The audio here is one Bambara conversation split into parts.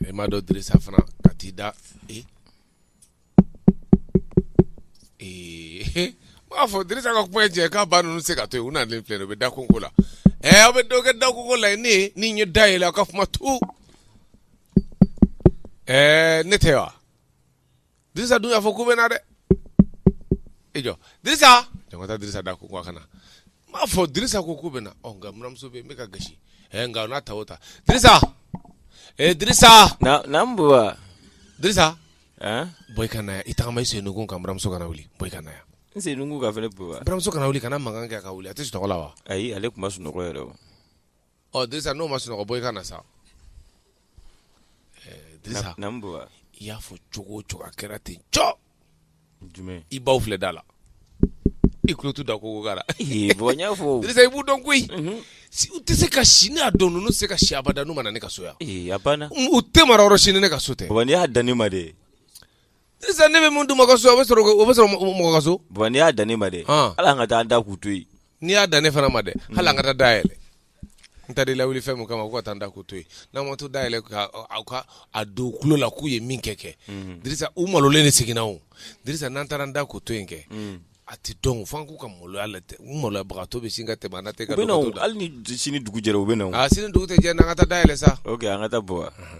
E m'a dɔn Dirisa fana ka t'i da ee ee m'a fɔ Dirisa ka kuma cɛ k'a ba ninnu se ka to yen u nalen filɛ u bɛ da konko la ɛ aw bɛ dɔw kɛ da konko la ne ni ye da yɛlɛ aw ka kuma to ɛɛ ne tɛ wa Dirisa dun y'a fɔ k'u bɛ na dɛ i jɔ Dirisa jɔn ka taa Dirisa da konko a kana n b'a fɔ Dirisa ko k'u bɛ na ɔ nka muramuso bɛ yen n bɛ ka gasi ɛ nka n'a ta o ta Dirisa ee Dirisa naamu baba Dirisa ɛn bɔ i ka na yan i tagama i sennukun kan muramuso kana wuli bɔ i ka na yan n sennukun ka fɛnɛ baba muramuso kana wuli kana mankan kɛ a ka wuli a tɛ sunɔgɔ la wa ayi ale tun ma sunɔgɔ yɛrɛ o Ɔ Dirisa n'o ma sunɔgɔ bɔ i ka na sa i y'a fɔ cogo o cogo a kɛra ten jumɛn i baw filɛ da la i tulo t'u da konko kan na Dirisa i b'u dɔn koyi u tɛ se ka si ne y'a dɔn ninnu tɛ se ka si abada n'u ma na ne ka so yan u tɛ mara yɔrɔ si ni ne ka so tɛ n'i y'a dan ne ma de Dirisa ne bɛ mun d'u ma ka so o bɛ sɔrɔ o bɛ sɔrɔ mɔgɔ ka so. baba n'i y'a dan ne ma dɛ. Ah. hali an ka taa an da k'u to yen. n'i y'a dan ne fana ma dɛ hali an ka taa da yɛlɛ. n taara i lawuli fɛn min kama ko ka taa n da k'u to yen n'an ma taa da yɛlɛ ka aw ka a don u tulo la k'u ye min kɛ kɛ. Mhm. dirisa u malolen de seginna o dirisa n'an taara n da k'u to yen kɛ. Mhm. a tɛ dɔn fo an k'u ka maloya la tɛ u maloyabagatɔ bɛ sin ka tɛmɛ an na tɛ ka dɔgɔtɔ da. u bɛ na hali ni sini dugu jɛra u bɛ na. aa sini dugu tɛ jɛ n'an ka taa da yɛlɛ sa. ok an ka taa baba. Mhm.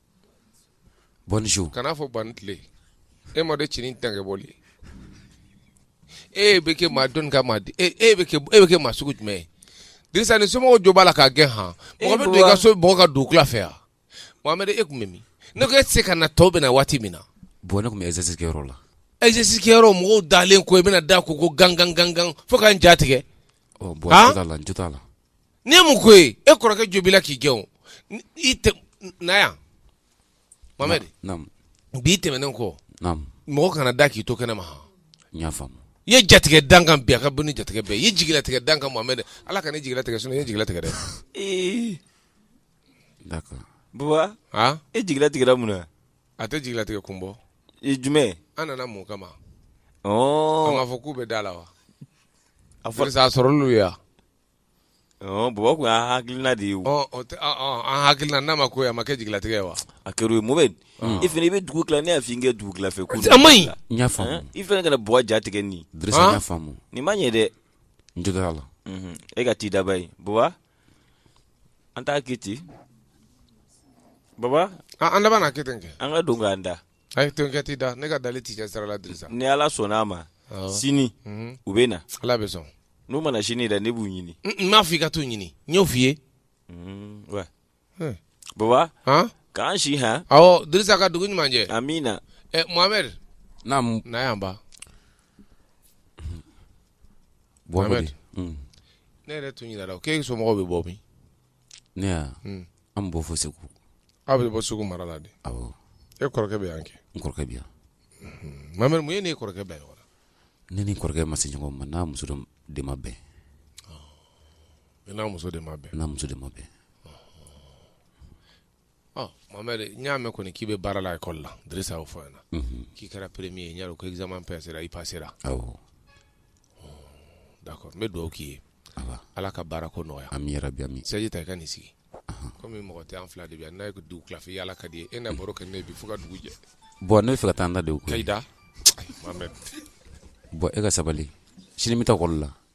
Bonjour kana fɔ ban tile e ma cinin tan kɛ bɔlen e bɛ kɛ maa dɔn ka di e e bɛ kɛ maa sugu jumɛn ye Dirisa ni somɔgɔw jo b'a la k'a gɛn h mɔgɔ bɛ don i ka so mɔgɔ ka don fɛ yan Mohamed e tun bɛ min ne ko e tɛ se ka na tɔw bɛ na waati min na bon ne tun bɛ exercice kɛyɔrɔ la exercice kɛyɔrɔ mɔgɔw dalen ko i bɛna da konko gangan gangan fo ka n ja tigɛ la la N ye mun ko ye e kɔrɔkɛ jo b'i la k'i gɛn o N- i tɛ na yan Mohamed Naamu. bi tɛmɛnen kɔ Naamu. mɔgɔ kana da k'i to kɛnɛma han. N y'a faamu. i ye jatigɛ dan kan bi a ka bon ni jatigɛ bɛɛ ye. i ye jigilatigɛ dan kan Mohamed Ala kana n jigilatigɛ sinon i ye jigilatigɛ dɛ Ee, D'accord. Baba, han e jigila tigɛra mun na? a tɛ jigilatigɛ kun bɔ I jumɛn? an nana mun kama an Ɔɔ, b'a fɔ k'u bɛ da la wa a fɔ- Dirisa, a sɔrɔl'u ye wa Baba tun y'an hakilina de ye an hakilina n'a ma ko a ma kɛ jigilatigɛ ye wa a Mohamed i fana i bɛ dugu tila ne y'a fɔ i kɛ dugu tila fɛ i fana kana mɔgɔ jatigɛ ni nin ma ɲɛ dɛ n jo t'a la e ka t'i daba ye baba an t'a kɛ ten baba an laban k'a kɛ an ka don k'an da Ayi to kɛ t'i da ne ka dalen tɛ cɛ sira la dirisa ni ala sɔnna a ma sini u bɛ na ala bɛ sɔn n'u ma na sini dɛ ne b'u ɲini n m'a fɔ i ka t'u ɲini n y'o f'i ye baba k'an si han dirisa ka dugu ɲuman jɛ amina Mohamed na na yan ba ne yɛrɛ tun ɲinana k'e somɔgɔw bɛ bɔ min ne y'a Hmm. an bɔ fo segu aw bɛ bɔ segu mara la de awɔ e kɔrɔkɛ bɛ yan kɛ n kɔrɔkɛ bi yan Mohamed mun y'e n'i kɔrɔkɛ bɛɛ ye wa ne ni n kɔrɔkɛ ma se ɲɔgɔn ma n n'a muso de ma bɛn i n'a muso de ma bɛn n'a muso de ma bɛn Mohamed n y'a mɛn kɔni k'i bɛ baara la école la o fɔ ɲɛna na k'i kɛra premier ye ɲa ko examen passera i passera d'accord n bɛ dugawu k'i ye ala ka baara ko nɔgɔya amina yarabi amina chaise ta i ka n'i sigi kɔmi mɔgɔ tɛ an fila de bɛ yan n'a ye dugutila yaala ka di e na baro kɛ ne bi fo ka dugu jɛ bon ne bɛ fɛ ka taa n da de k'i da bon e ka sabali sini n bɛ taa école la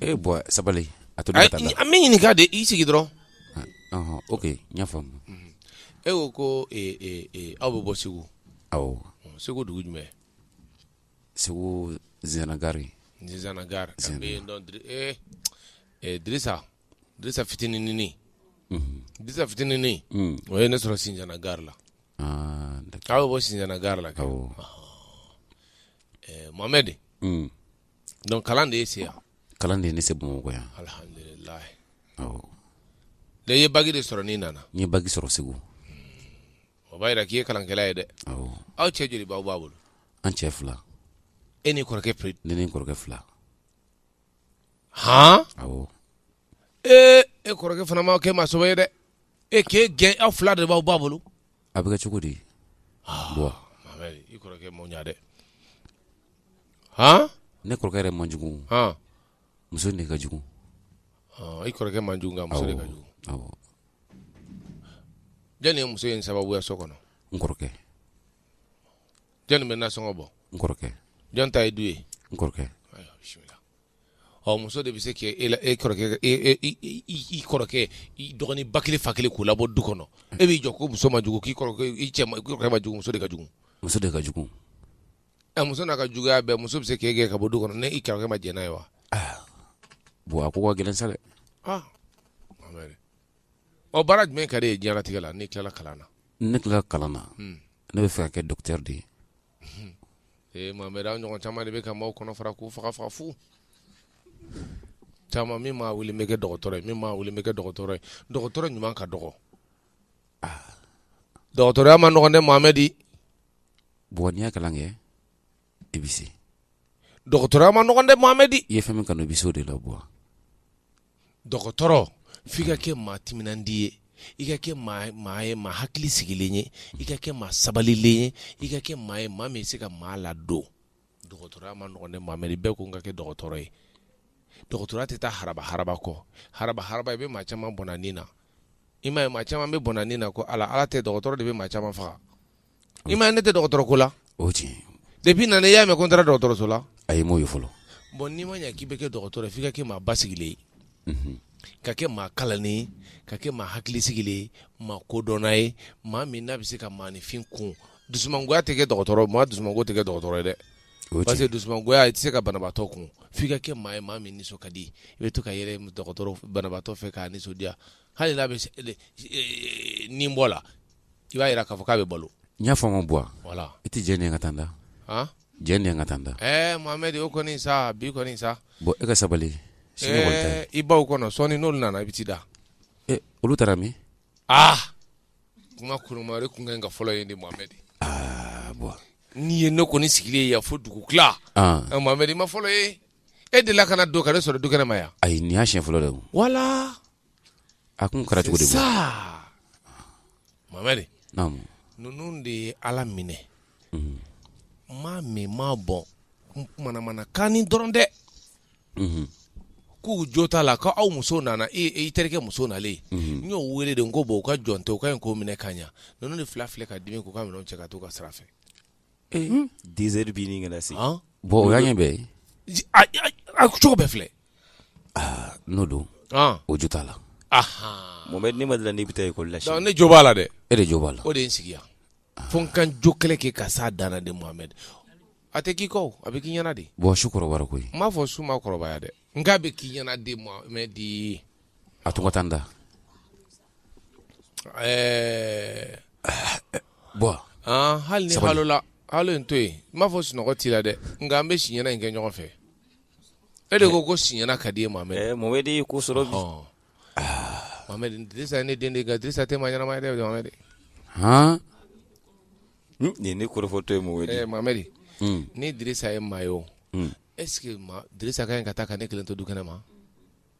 E bon sabali a to an b'i ɲininka de i sigi dɔrɔn ok n y'a faamu e ko ko aw bɛ bɔ segu segu dugu jumɛn segu zinzana gari zinzana gari dirisa dirisa fitinin dirisa fitinin o ye ne sɔrɔ zinzana gari la k'aw bɛ bɔ zinzana gari la ka Mohamed Donc kalan de y'i se yan kalan de ye ne se Bamakɔ yan alhamdulilahi awɔ dɛ i ye bac de sɔrɔ n'i nana n ye bac sɔrɔ Segu o b'a yira k'i ye kalankɛla ye dɛ awɔ aw cɛ joli b'aw ba bolo an cɛ fila e n'i kɔrɔkɛ pe ne ni n kɔrɔkɛ fila han awɔ ee e kɔrɔkɛ fana ma kɛ maa sɔbɛ ye dɛ e k'e gɛn aw fila de b'aw ba bolo a bɛ kɛ cogo di bon i kɔrɔkɛ man ɲi dɛ hɔn ne kɔrɔkɛ yɛrɛ man jugu hɔn muso de ka jugu i kɔrɔkɛ man jugu nka muso de ka jugu awɔ jɔnni ye muso in sababuya so kɔnɔ n kɔrɔkɛ jɔnni bɛ nasɔngɔ bɔ n kɔrɔkɛ jɔn ta ye du ye n kɔrɔkɛ ayiwa bisimila ɔ muso de bɛ se k'e la e kɔrɔkɛ i kɔrɔkɛ i dɔgɔnin ba kelen fa kelen k'u labɔ du kɔnɔ e b'i jɔ ko muso man jugu k'i kɔrɔkɛ man jugu muso de ka jugu muso de ka jugu ɛ muso n'a ka juguya bɛɛ muso bɛ se k'e gɛn ka bɔ du kɔnɔ n'i kɔrɔkɛ ma jɛn n'a ye wa bon a ko ka gɛlɛn sa dɛ ɔ baara jumɛn ka d'i ye diɲɛlatigɛ la n'i tilala kalan na ne tilala kalan na ne bɛ fɛ ka kɛ docteur de ye ee Mohamed aw ɲɔgɔn caman de bɛ ka maaw kɔnɔ fara k'u faga fu caman min maa wuli n bɛ kɛ dɔgɔtɔrɔ ye min maa wuli n bɛ kɛ dɔgɔtɔrɔ ye dɔgɔtɔrɔ ɲuman ka dɔgɔ dɔgɔtɔrɔya ma nɔgɔn dɛ Mohamed Bɔ n'i y'a kalan kɛ i bɛ se dɔgɔtɔrɔya ma nɔgɔn dɛ Mohamed i ye fɛn min kanu i bɛ se o de la bɔ dɔgɔtɔrɔ f'i ka kɛ maa timinandi ye i ka kɛ maa ye maa hakili sigilen ye i ka kɛ maa sabalilen ye i ka kɛ maa ye maa min se ka maa ladon dɔgɔtɔrɔya ma nɔgɔn dɛ Mohamed bɛɛ ko n ka kɛ dɔgɔtɔrɔ ye dɔgɔtɔrɔya tɛ taa haraba haraba kɔ haraba haraba i bɛ maa caman bɔnɛ a ni na i m'a ye maa caman bɛ bɔnɛ a ni na ko ala ala tɛ dɔgɔtɔrɔ de bɛ maa caman faga I m'a ye ne tɛ dɔgɔtɔrɔ ko la o tiɲɛ depuis n nana i y'a mɛn ko n taara dɔgɔtɔrɔso la ayi n m'o ye fɔlɔ bɔn n'i ma ɲɛ k'i bɛ kɛ dɔgɔtɔrɔ ye f'i ka kɛ maa basigilen ye ka kɛ maa kalannen ye ka kɛ maa hakili sigilen ye maa kodɔnna ye maa min n'a bɛ se ka maaninfin kun dusumangoya tɛ kɛ dɔgɔtɔrɔ maa dusumango tɛ kɛ dɔgɔtɔrɔ ye dɛ parce que dusumangoya i tɛ se ka banabaatɔ kun f'i ka kɛ maa ye maa min nisɔn ka di i bɛ to ka yɛlɛ dɔgɔtɔrɔ banabaatɔ fɛ k'a nisɔndiya hali n'a bɛ nin bɔ la i b'a jira k'a fɔ k'a bɛ balo n y'a faamu bɔ voilà i tɛ jɛn ne ka taa n da jɛn ne ka taa n da ɛɛ Mohamed o kɔni sa bi kɔni sa Bɔ e ka sabali i baw kɔnɔ sɔɔni n'olu nana i bɛ t'i da olu taara min aa kuma kurumari kun ka fɔlɔ ye ni Mohamed Bɔ n'i ye ne kɔni sigilen ye yan fo dugu tila Mohamed i ma fɔlɔ ye e delila ka na don ka ne sɔrɔ du kɛnɛ ma yan ayi nin y'a siɲɛ fɔlɔ de ye voilà A kun kɛra cogo di sa Mohamed ninnu de ye ala minɛ maa min maa bɔ manamana kan nin dɔrɔn dɛ k'u jo t'a la k'aw muso nana e i terikɛ muso nalen n y'o weele de n ko bɔn u ka jɔn tɛ u ka ɲi k'o minɛ ka ɲa ninnu de fila filɛ ka dimi k'u ka minɛn cɛ ka taa u ka sira fɛ Dix heures bɛ ɲini ka na se Bɔ o y'a ɲɛ bɛɛ ye a cogo bɛɛ filɛ n'o don o jo t'a la Mohamed ne ma d'a la n'i bɛ taa école la ne jo b'a la dɛ e de jo b'a la o de ye n sigi yan fo n ka jo kɛlɛ kɛ ka s'a dan na de Mohamed a tɛ k'i kɔ a bɛ k'i ɲɛna de Bɔ su kɔrɔbara koyi n m'a fɔ su ma kɔrɔbaya dɛ nka a bɛ k'i ɲɛna de Mohamed a to n ka taa n da Ɛɛ Bɔ hali ni balola hali to yen n m'a fɔ sunɔgɔ t'i la dɛ nka an bɛ si ɲɛna in kɛ ɲɔgɔn fɛ e de ko ko si ɲɛna ka di e Mohamed Mohamed ye ko sɔrɔ ne den Dirisa tɛ maa ɲɛnama ye dɛ hɔn nin ye ne kɔrɔfɔtɔ ye Mohamed ni Dirisa ye maa ye o est-ce que Dirisa ka ɲi ka taa ka ne kelen to du kɛnɛ ma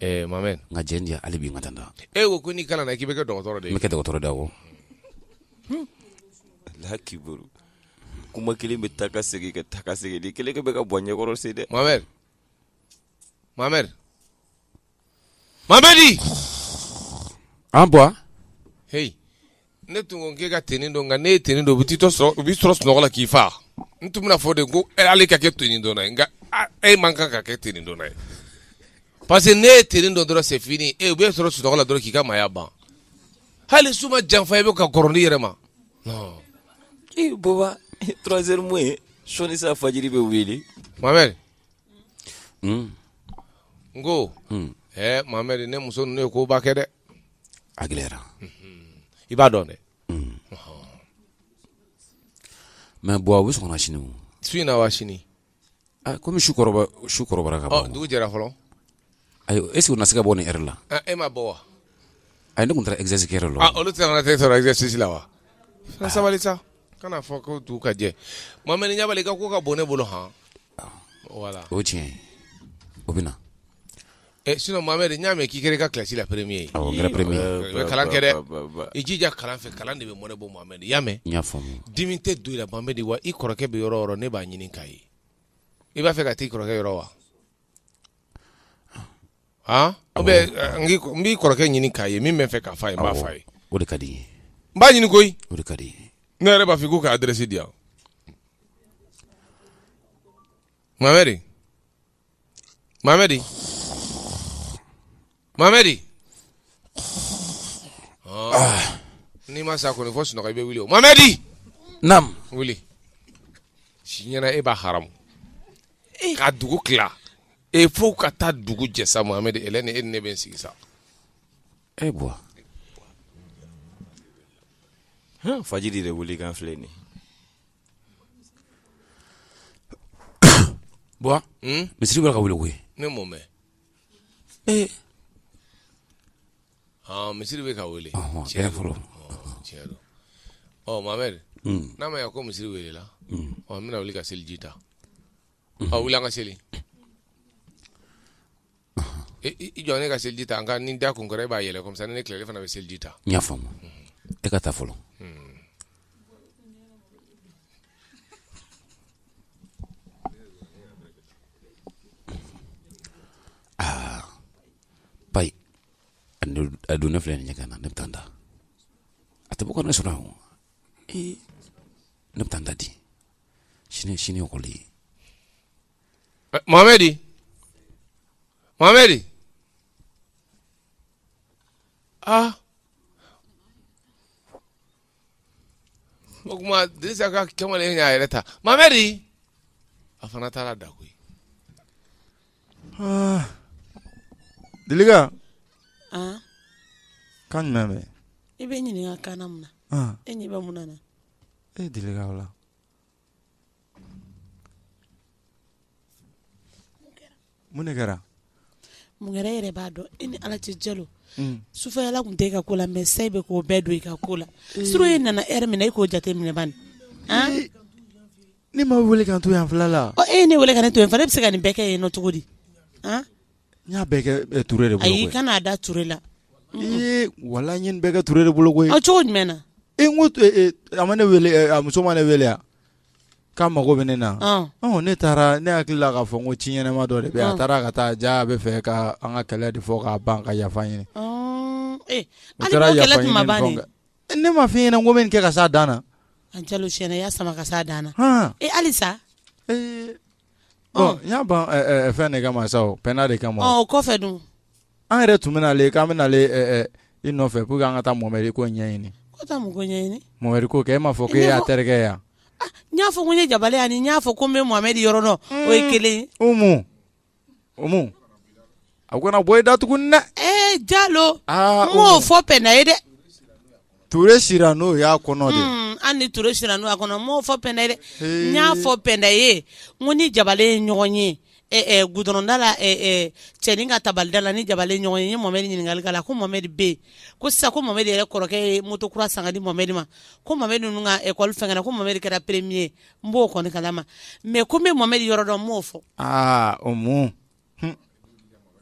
Mamɛ nka j di hali bi i ma da e ko ko n'i kalanna k'i bɛ kɛ dɔgɔtɔrɔ de i bɛ kɛ dɔgɔtɔrɔ de ye awɔ Ala k'i kuma kelen bɛ taa ka segin ka taa ka segin ni kelen bɛ ka bɔ ɲɛkɔrɔ se dɛ Mohamed Mohamed Mohamed an bɔ h ne tun ko k'e ka tenue don nka n'e ye tenue don u b'i sɔrɔ u b'i sɔrɔ sunɔgɔ la k'i fa n tun bɛna fɔ de ko ale ka kɛ tenue donna ye nka e man kan ka kɛ tenue donna ye parce que n'e ye tenue don dɔrɔn c'est fini e u b'i sɔrɔ sunɔgɔ la dɔrɔn k'i ka maaya ban hali su ma janfa i bɛ ka kɔrɔni yɛrɛ ma non ee baba trois heures moins sɔɔni sa fajiri bɛ wele Mohamed n ko ɛɛ Mohamed ne muso ninnu ye koba kɛ dɛ a gɛlɛyara i b'a dɔn dɛ mais bon a bɛ sɔn ka na sini o su in na wa sini Ah, kɔmi su kɔrɔba su kɔrɔbara ka ban dugu jɛra fɔlɔ ayi est ce que u na se ka bɔ nin heure la Ah, e ma bɔ wa ayi ne tun taara exercice kɛ yɔrɔ la Ah, olu tɛna t'e sɔrɔ exercice la wa fɛn sabali sa kana fɔ ko dugu ka jɛ Mohamed ɲabali i ka ko ka bon ne bolo han voilà o ye tiɲɛ ye o bɛ na Sinon Mohamed n y'a mɛn k'i kɛra i ka classe la premier ye, awɔ, n kɛra premier ye, i bɛ kalan kɛ dɛ, i jija kalan fɛ kalan de bɛ mɔnɛ bɔ Mohamed i y'a mɛn, n y'a faamu, dimi tɛ don i la Mohamed wa i kɔrɔkɛ bɛ yɔrɔ o yɔrɔ ne b'a ɲini k'a ye, i b'a fɛ ka t'i kɔrɔkɛ yɔrɔ wa? han ou bien n b'i kɔrɔkɛ ɲini k'a ye min bɛ n fɛ k'a fɔ a ye n b'a fɔ a ye, o de ka di n ye, n b'a ɲini koyi, o de ka di n ye, ne yɛrɛ b'a fɛ i k'u ka adresse di yan Mohamed Mamɛdi Mamɛdi n'i ma sa kɔni fo sunɔgɔ i bɛ wuli o Mamɛdi naamu wuli si ɲɛna e b'a haramu ka dugu tila e fo ka taa dugu jɛ sa Mamɛdi e ni e ni ne bɛ n sigi sa e Buwa fajiri de wuli kan filɛ nin ye Buwa misiri bɛ ka wuli koyi ne m'o mɛn ee aa misiri bɛ ka wele tiɲɛ fɔlɔ tiɲɛ o Mohamed n'a ma ya ko misiri welela ɔ n bɛna wuli ka seliji ta a wuli an ka seli jɔ ne ka seliji ta an ka nin da kun kɔrɔ e b'a yɛlɛ comme ça ni ne tilala e fana bɛ seliji ta n y'a faamu e ka taa fɔlɔ aa ba a don ne filɛ nin ɲɛgɛn na ne bɛ taa n da a tɛ bɔ ka ne sɔrɔ yan ee ne bɛ taa n da di sini sini ekɔli ye Eh, Mohamedi, Mohamedi, ah, ko kuma Dirisa ka kamalen y'a yɛrɛ ta Mohamedi, a fana taara da koyi. Ah. Dilika, Aa kan jumɛn bɛ? i bɛ ɲininka kana mun na Ah, e ɲɛ bɛ mun na na Eh Dilika o la. Mun de kɛra mun kɛra e yɛrɛ b'a dɔn i ni ala cɛ jalo sufɛla tun tɛ e ka ko la mɛ sa i bɛ k'o bɛɛ don i ka ko la surtout e nana heure min na e k'o jate minɛ bani ne ma weele ka to yan fila la e ye ne weele ka ne to yen fana e bɛ se ka nin bɛɛ kɛ yen ɔ cogo di N y'a bɛɛ kɛ Ture de bolo koyi, ayi i kan'a da Ture la, ee walahi n ye nin bɛɛ kɛ Ture de bolo koyi, ɔ cogo jumɛn na, ee n ko a ma ne wele a muso ma ne wele wa k'a mago bɛ ne na, ɔ ne taara ne hakili la k'a fɔ ko ci ɲɛnama dɔ de bɛ yen, a taara ka taa jaa a bɛ fɛ ka an ka kɛlɛ de fɔ k'a ban ka yafa ɲini, ɔ e hali n'o kɛlɛ tun ma ban dun, ne m'a fɔ i ɲɛna ko n bɛ nin kɛ ka s'a dan na, a jalo tiɲɛ na i y'a sama ka s'a dan na, han, ee halisa, ee Ɔ n y'a ban fɛn de kama sa o Pɛnda de kama o kɔfɛ dun an yɛrɛ tun bɛ nalen k'an bɛ nalen i nɔfɛ pour que an ka taa Mohamed ko ɲɛɲini ko taa mun ko ɲɛɲini Mohamed ko kɛ e m'a fɔ k'e y'a terikɛ ye wa n y'a fɔ ko n ye Jabale ye ani n y'a fɔ ko n bɛ Mohamed yɔrɔ dɔn o ye kelen ye Umu Umu A kana bɔ i da tugun dɛ ee Jalo n m'o fɔ Pɛnda ye dɛ Ture sira n'o y'a kɔnɔ an ni Ture sira n'o y'a kɔnɔ n m'o fɔ Pɛnda ye dɛ n y'a fɔ Pɛnda ye n ko n ni Jabale ye ɲɔgɔn ye ɛ gudɔrɔn da la cɛnin ka tabali da la n ni Jabale ɲɔgɔn ye n ye Mohamed ɲininkali k'a la ko Mohamed bɛ yen ko sa ko Mohamed yɛrɛ kɔrɔkɛ ye moto kura san ka di Mohamed ma ko Mohamed ninnu ka lakɔli fɛn na ko Mohamed kɛra premier ye n b'o kɔni kala ma mɛ ko n bɛ Mohamed yɔrɔ dɔn n m'o fɔ o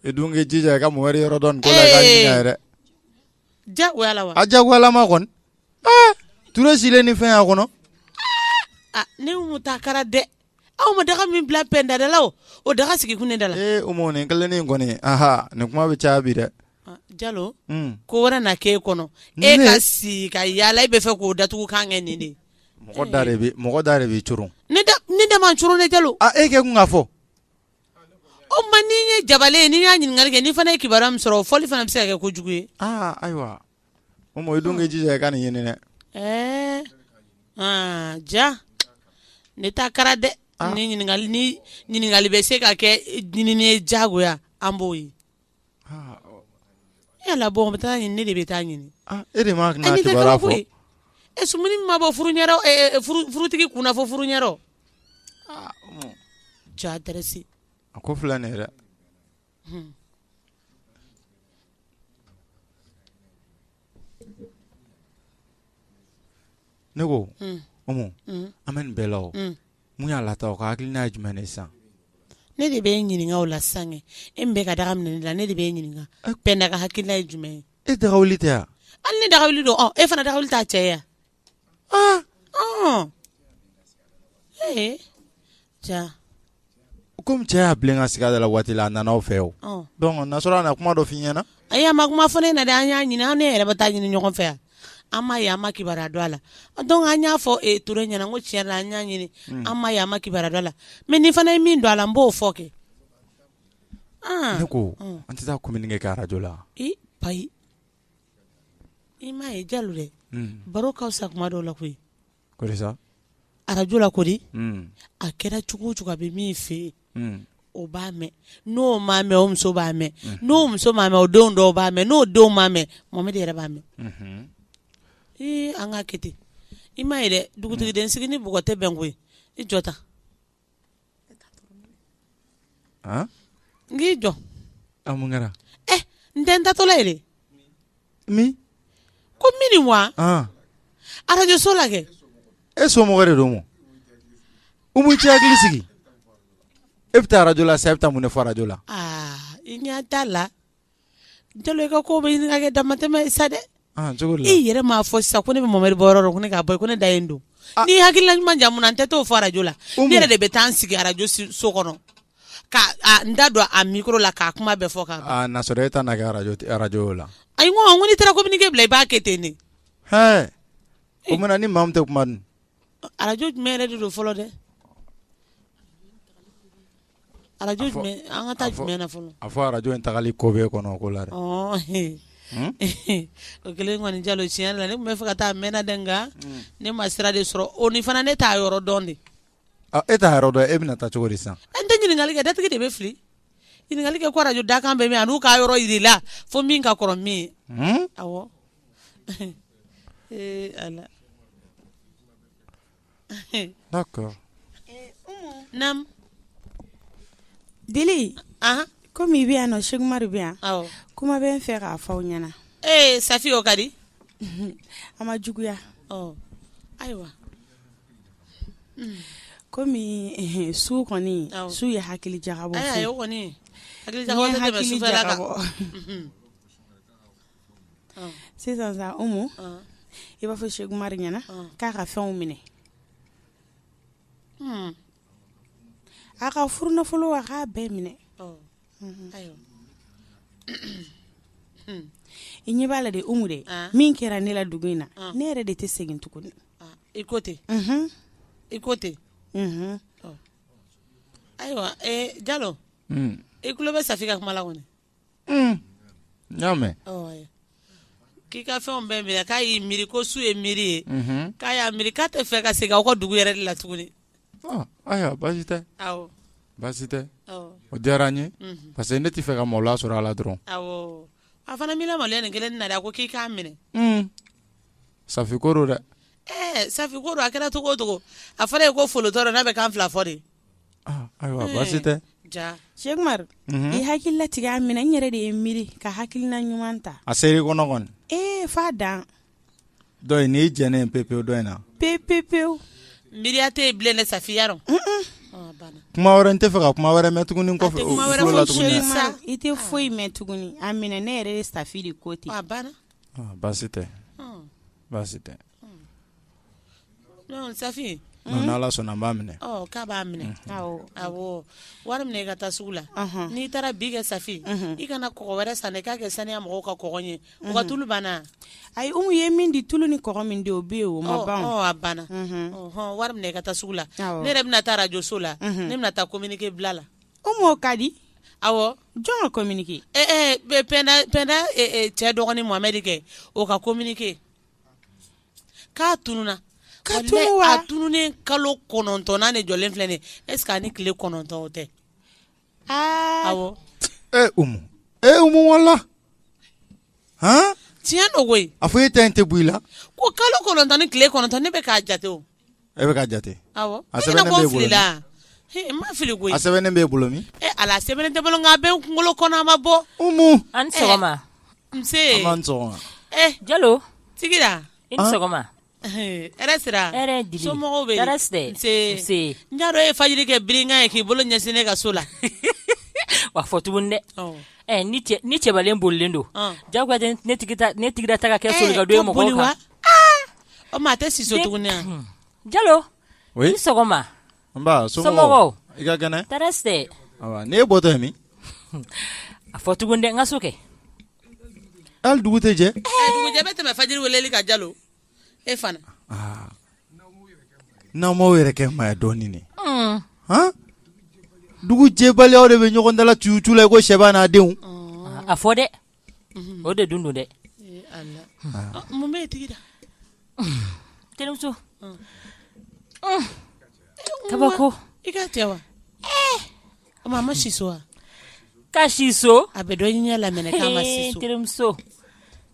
i dun k'i jija i ka Mohamed yɔrɔ dɔn nin ko la i k'a ɲini a ye dɛ, ee, diyagoya la wa, a diyagoyalama kɔni, ee, Ture silen ni fɛn y'a kɔnɔ, aa, ne Umu ta kɛra dɛ, aw ma daga min bila pɛnda da la o, o daga sigi kun ne da la, ee Umu nin kelennin in kɔni, anhan, nin kuma bɛ caya bi dɛ, Aa, Jalo, un, ko wɛrɛ na k'e kɔnɔ, Ne? e ka si ka yaala e bɛ fɛ k'o datugulan kɛ nin de ye, mɔgɔ da de bɛ mɔgɔ da de b'i coron, ne da ne da ma n coron dɛ Jalo, a e kɛ kun k'a fɔ, O ma ni n ye Jabale ye ni n y'a ɲininkali kɛ n fana ye kibaruya min sɔrɔ o fɔli fana bɛ se ka kɛ ko jugu ye ayiwa Umu i dun k'i jija ka nin ɲini dɛ ɛɛ ja ne ta kɛra dɛ ɲininkali bɛ se ka kɛ ɲinini ye jagoya an b'o ye Yala bɔ bɛ taa ɲini ne de bɛ taa ɲini e de ma koyi e sumuni ma bɔ furutigi kunna fo furu ɲɛ ja adɛrɛsi a ko filɛ nin ye dɛ ne ko Umu an bɛ nin bɛɛ la o mun y'a lata o ka hakilina ye jumɛn ye sisan ne de bɛ e ɲininka o la sisan e min bɛ ka daga minɛ ne la ne de bɛ e ɲininka Pɛnda ka hakilina ye jumɛn ye e daga wuli tɛ yan hali ne daga wuli don e fana daga wuli t'a cɛ yan Kɔmi cɛ y'a bilen ka sigi da la waati la a nana aw fɛ o n'a sɔrɔ a na kuma dɔ f' i ɲɛna ayi a ma kuma fɔ ne na an y'a ɲini an n'e yɛrɛ bɛ taa ɲini ɲɔgɔn fɛ yan an m'a ye an ma kibaruya dɔn a la dɔn an y'a fɔ Ture ɲɛna ko tiɲɛ la an y'a ɲini an m'a ye an ma kibaruya dɔn a la mɛ ne fana ye min don a la n b'o fɔ kɛ ne ko an tɛ taa kominike kɛ arajo la payi i m'a ye Jalo dɛ baro ka fisa kuma dɔw la koyi arajo la ko di a kɛra cogo o cogo a bɛ min fɛ yen o b'a mɛn n'o m'a mɛn o muso b'a mɛn n'o muso m'a mɛn o denw dɔw b'a mɛn n'o denw m'a mɛn Mohamed yɛrɛ b'a mɛn ee an k'a kɛ ten i m'a ye dɛ dugutigi den sigi ni bɔgɔ tɛ bɛn koyi i jɔ ta n k'i jɔ mun kɛra n tɛ n taatɔla ye dɛ min ko mini wa arajoso la kɛ e somɔgɔ de don mɔ Umu i t'i hakili sigi e bɛ taa arajo la sa e bɛ taa mun ne fɔ arajo la i ɲɛ t'a la Jalo i ka ko bɛ ɲini ka kɛ damatɛmɛ ye sa dɛ i yɛrɛ m'a fɔ sisan ko ne bɛ Mohamed bɔ yɔrɔ ne k'a bɔ ko ne da don ni hakilila ɲuman jamana n tɛ t'o fɔ arajo la n yɛrɛ de bɛ taa n sigi arajo so kɔnɔ ka n da don a mikoro la k'a kuma bɛɛ fɔ e arajo la ayi ko n'i taara kominike bila i b'a kɛ ten ne o mana ni maa min tɛ kuma arajo jumɛn yɛrɛ de don fɔlɔ dɛ Arajo jumɛn an ka taa jumɛn na fɔlɔ a fɔ arajo in tagali ko bɛ kɔnɔ ko la o kelen kɔni Jalo tiɲɛ la ne tun bɛ fɛ ka taa mɛnna dɛ nka ne ma sira de sɔrɔ o ni fana ne t'a yɔrɔ dɔn de e t'a yɔrɔ dɔn e bɛna taa cogo di sisan n tɛ ɲininkali kɛ datigi de bɛ fili ɲininkali kɛ ko arajo Dakan bɛ min an'u k'a yɔrɔ jira i la fo min ka kɔrɔ min ye dili kɔmi i bɛ yan nɔ seku umaru bɛ yan kuma bɛ n fɛ k'a fɔ aw ɲɛna ee safi o ka di a ma juguya ayiwa kɔmi su kɔni su ye hakili jagabɔ sisan sa Umu, un, i b'a fɔ Seku Umaru ɲɛna, un, k'a ka fɛnw minɛ, un, a ka furunafolo a k'a bɛɛ minɛ, ɔ, unhun, ayiwa, i ɲɛ b'a la dɛ Umu dɛ, an, min kɛra ne la dugu in na, an, ne yɛrɛ de tɛ segin tuguni, a, i ko ten, unhun, i ko ten, unhun, ɔ, ayiwa ee Jalo, un, i tulo bɛ Safi ka kuma la kɔni n y'a mɛn. k'i ka fɛnw bɛɛ minɛ k'a y'i miiri ko su ye miiri ye. Mhm. k'a y'a miiri k'a tɛ fɛ ka segin aw ka dugu yɛrɛ de la tuguni. Ah, ayiwa baasi tɛ. awɔ. baasi tɛ. awɔ. o diyara n ye. Mhm. parce que ne tɛ fɛ ka maloya sɔrɔ a la dɔrɔn. awɔ a fana m'i lamaloya nin kelen na dɛ a ko k'i k'a minɛ. Hmm. Safi ko don dɛ. ɛɛ eh, Safi ko don a kɛra cogo o cogo a fɔra ye ko folotɔ don n'a bɛ kan fila fɔ de. Ayiwa baasi tɛ seku umaru i hakili latigɛ a minɛ n yɛrɛ de ye miiri ka hakilina ɲuman ta a ser'i kɔnɔ kɔni ee f'a dan dɔn in n'i jɛnnen pe pewu dɔ in na pe pe pewu miiriya tɛ yen bilen safi dɔn kuma wɛrɛ n tɛ fɛ ka kuma wɛrɛ mɛn tuguni kɔfɛ i tɛ foyi mɛn tuguni a minɛ ne yɛrɛ ye safi de ko ten baasi tɛ baasi tɛ Safi n'ala sɔnna n b'a minɛ k'a b'a minɛ awɔ wari minɛ i ka taa sugu la n'i taara bi kɛ safi i kana kɔgɔ wɛrɛ san k'a kɛ saniya mɔgɔw ka kɔgɔ ye ka tulu banna ayi umu ye min di tulu ni kɔgɔ min o bɛ yen o ma ban a banna wari minɛ i ka taa sugu la ne yɛrɛ bɛna taa arajoso la ne bɛna taa kominike bila la o ka di awɔ jɔn ka kominike penda cɛ dɔgɔnin mohamɛdi kɛ o ka kominike k'a tununna ka tunun wa a tununnen kalo kɔnɔntɔnnan de jɔlen filɛ nin ye est ce que ani tile kɔnɔntɔn o tɛ aa awɔ ee umu ee umu wala han tiɲɛ don koyi a fɔ e ta in tɛ bɔ i la ko kalo kɔnɔntɔn ni tile kɔnɔntɔn ne bɛ k'a jate o E bɛ k'a jate a sɛbɛnnen b'e bolo min ala sɛbɛnnen tɛ bolo a bɛ n kunkolo kɔnɔ a ma bɔ an jalo sigira i ni sɔgɔma n b'a dɔn e ye fajiri kɛ bere ye k'i bolo ɲɛsin ne ka so la wa fɔ tuguni dɛ ni cɛbalen bolilen don ja ne ne tigi da ta ka kɛ so don mɔgɔ O ma a tɛ si so tuguni jalo oui i ni sɔgɔma somɔgɔw i ka kɛnɛ ni e bɔtɔ min a fɔ tuguni dɛ n ka so kɛ hali dugu tɛ jɛ dugujɛ bɛ tɛmɛ fajiri wele kan jalo e fana n'aw m'aw yɛrɛ kɛ maa ye dɔɔnin dugu jɛbaliya aw de bɛ ɲɔgɔn da la tu tu la i ko sɛba n'a denw a fɔ dɛ o de dun don dɛ mun bɛ tigi terimuso kabako i ka cɛ wa a ma si so wa ka si so a bɛ dɔ ɲɛ lamɛn terimuso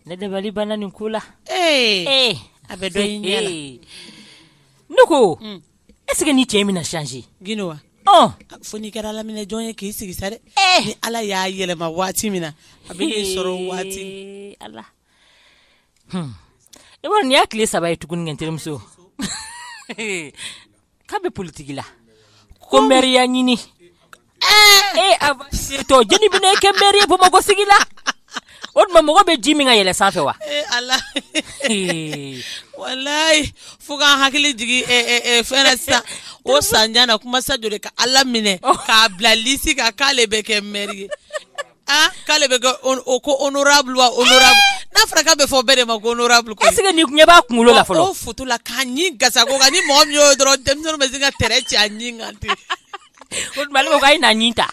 ne dabali banna nin ko la a bɛ dɔ ɲɛ ne ko est-ce que nin cɛ in bɛna changer tuguni wa fo n'i kɛra ala minɛ jɔn ye k'i sigi sa dɛ ni ala y'a yɛlɛma waati min na a b'i sɔrɔ waati ala i b'a dɔn nin y'a tile saba ye tuguni kɛ terimuso k'a bɛ politiki la ko mɛriya ɲini ee a setɔ jeni bɛna kɛ mɛri ye bamakɔ sigi la o tuma mɔgɔ bɛ ji min ka yɛlɛ sanfɛ wa ee ala Ee, walayi fo k'an hakili jigin eh, eh, eh, fɛn na sisan o sanjan na kuma sa joli ka ala minɛ k'a bila lisi kan k'ale bɛ kɛ mɛri ye ah k'ale bɛ kɛ on- o ko honorable wa honorable n'a fɔra k'a bɛ fɔ bɛɛ de ma ko honorable ko est-ce que nin ɲɛ b'a kunkolo la fɔlɔ o foto la k'a ɲi gasa ko kan ni mɔgɔ min y'o ye dɔrɔn denmisɛnninw bɛ se ka tɛrɛ ci a ɲi kan ten O tuma ale ko k'a ye na ɲin ta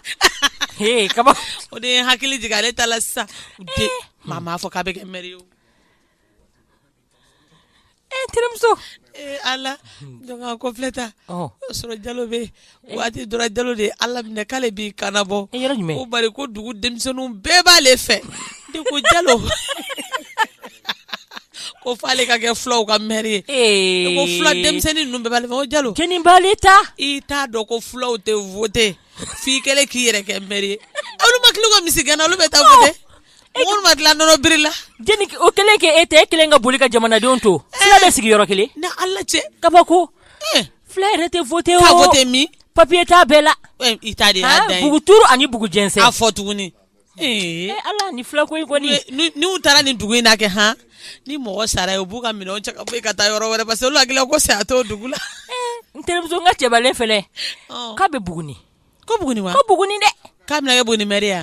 ee kaba o de ye n hakili jigin ale ta la sisan u den maa m'a fɔ k'a bɛ kɛ mɛri ye o ee n terimuso ee ala donc a ko filɛ ta ɔ o sɔrɔ jalo bɛ yen waati dɔ ra jalo de ye ala minɛ k'ale b'i kanbɔ e yɔrɔ jumɛn ko bari ko dugu denmisɛnninw bɛɛ b'ale fɛ de ko jalo ko fo ale ka kɛ fulaw ka mɛri ye ko fula denmisɛnnin ninnu bɛɛ bɛ jalo ta i t'a dɔn ko fulaw tɛ voter f'i kelen k'i yɛrɛ kɛ mɛri ye olu ma tila u ka misigɛn na olu bɛ taa voter mɔgɔ ma tila nɔnɔ biri la o kelen kɛ e tɛ e kelen ka boli ka jamanadenw to fula bɛ sigi yɔrɔ kelen ni ala cɛ kabako fula yɛrɛ tɛ voter ka voter min papiye t'u bɛɛ la i ta de ye bugu turu ani bugu jɛnsɛn a fɔ tuguni Ee ala ni fila ko n'u taara nin dugu in na kɛ han ni mɔgɔ sara ye u b'u ka minɛnw cɛ ka bɔ i ka taa yɔrɔ wɛrɛ parce que olu hakili la ko saya to dugu la n terimuso n ka cɛbalen fɛnɛ k'a bɛ buguni ko buguni ko buguni dɛ k'a bɛna kɛ buguni mɛri ye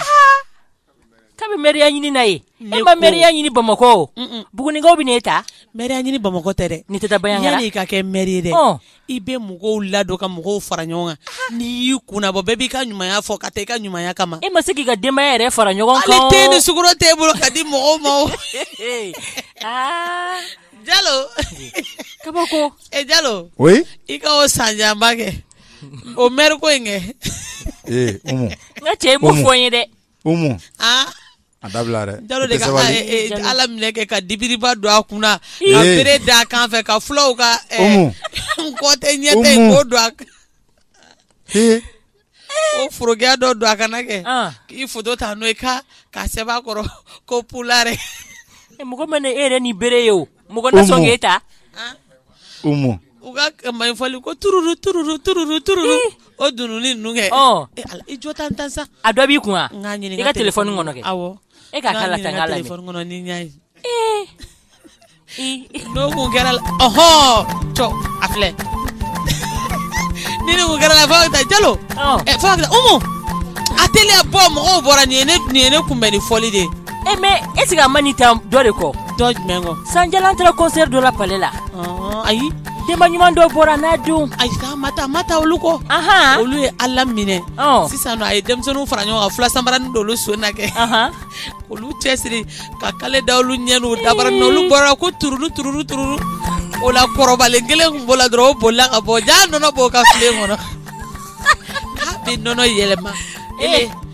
k'a bɛ mɛriya ɲini na yen e ma mɛriya ɲini bamakɔ bugunikaw bɛna e ta mɛriya ɲini bamakɔ tɛ dɛ i tɛ taa baara yanni i ka kɛ mɛri ye dɛ i bɛ mɔgɔw ladon ka mɔgɔw fara ɲɔgɔn kan n'i y'i kunna bɔ bɛɛ b'i ka ɲumanya fɔ ka taa i ka ɲumanya kama e ma se k'i ka denbaya yɛrɛ fara ɲɔgɔn kan te ni sukaro t'e bolo ka di mɔgɔw ma jalo kabako e jalo o i ka o san janba kɛ o mɛri ko in kɛ ee n ka cɛ i m'o fɔ n ye dɛ A dabila dɛ, jalo de, ka e e Ala minɛ kɛ ka dibiriba don a kunna, ee, ka bere da a kan fɛ, ka fulaw ka ɛ, Umu, n kɔ tɛ, n ɲɛ tɛ, Umu, k'o don a kan, ee, o forokiya dɔ don a kana kɛ, an, k'i foto ta n'o ye ka k'a sɛbɛn a kɔrɔ ko pulare, mɔgɔ mana e yɛrɛ ni bere ye o Mɔgɔ na sɔn k'e ta, an, Umu, u ka man fɔli ko tururu tururu tururu tururu o dununni ninnu kɛ, ɔ, e Ala i jɔ tan tan sa, a dɔ b'i kun wa, n k'a ɲini n ka telefɔni kɔnɔ kɛ, awɔ, e k'a k'a la tan n k'a lajɛ, n k'a ɲini n ka telefɔni kɔnɔ ni n y'a ye, ee, i, n'o tun kɛra la ɔhɔɔ cɔ a filɛ ni nin tun kɛra la fo a bɛ taa jalo ɔ ɛ fo a bɛ taa Umu a teliya bɔ mɔgɔw bɔra nin ye ne kunbɛn ni fɔli de ye E mɛ ɛsike a ma nin ta dɔ de kɔ jumɛn kɔ sanjala an taara kɔnsɛri dɔ la pale la ayi denba ɲuman dɔ bɔra n'a don ayi m'a ta m'a ta olu kɔ aɔn olu ye ala minɛ sisan a ye denmisɛnninw fara ɲɔgɔn kan fula sabaranin don olu sen na kɛ olu cɛsiri ka kale da olu ɲɛ n'u dabara na olu bɔra ko tuuru tuuru tuuru o la kɔrɔbalen kelen tun b'o la dɔrɔn o bolila ka bɔ jaa nɔnɔ b'o ka filen kɔnɔ a bɛ nɔnɔ yɛlɛma ee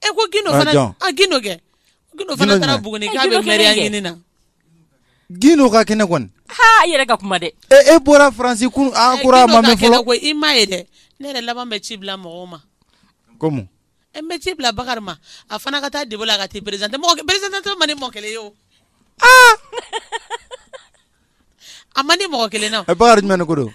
E ko gino fana gino kɛ gino fana taara buguni k'a bɛ mɛriya ɲini na gino ka kɛnɛ kɔni i yɛrɛ ka kuma dɛ e bɔra faransi kun an kura ma min fɔ ko i ma ye dɛ ne yɛrɛ laban bɛ ci bila mɔgɔw ma komi n bɛ ci bila bakari ma a fana ka taa debo la ka t'i perezante perezante man di mɔgɔ kelen ye o a man di mɔgɔ kelen na bakarijan jumɛn ko don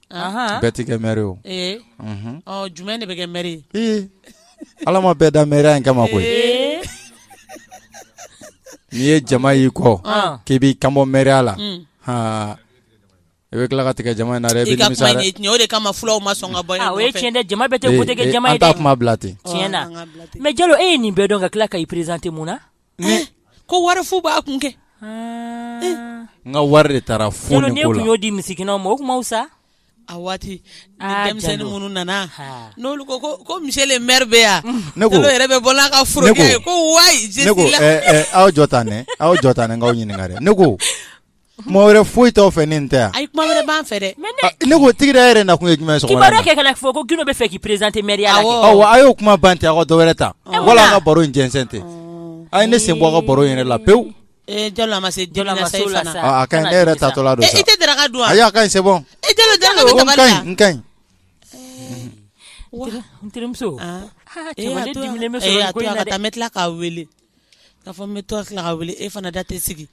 bɛɛ tɛ kɛ mɛri o jumɛn de bɛ kɛ mɛri ye ala ma bɛɛ da mɛri in kama koyi n'i ye jama y'i kɔ k'i b'i kanbɔ mɛri la i bɛ tila ka tigɛ jama in na dɛ o de kama fulaw ma sɔn ka bɔ yen o ye tiɲɛ dɛ jama bɛɛ tɛ wote kɛ jama ye dɛ an t'a kuma bila ten tiɲɛ na mɛ jalo e ye nin bɛɛ dɔn ka tila ka i perezante mun na ko wari fu b'a kun kɛ n ka wari de taara fu ne ko n'i y'o di misikinɛw ma o kun ma wusa a waati denmisɛnnin minnu nana n'olu ko ko misiye le mɛri bɛ yan jalo yɛrɛ bɛ bɔ n'a ka forokiya ye ko wa aw jɔ tan aw jɔ tan n k'aw ɲininka ne ko Kuma wɛrɛ foyi t'aw fɛ ni nin tɛ ayi kuma wɛrɛ b'an fɛ dɛ ne ko tigida yɛrɛ nakun ye jumɛn ye kɛ kana fɔ ko gino bɛ fɛ k'i présenté mɛriya la a y'o kuma ban ten aw dɔwɛrɛ ta wala an ka baro in jɛnsɛn ten a ye ne sen bɔ a ka baro yɛrɛ la pewu e jalo a ma se jalo a ma se la sa a ka ɲi ne yɛrɛ taatɔla don e tɛ daraka dun wa ayi a ka ɲi c'est bon e jalo daraka bɛ ka ɲi n ka ɲi n terimuso tila k'a weele k'a fɔ n bɛ to tila ka weele e fana da tɛ sigi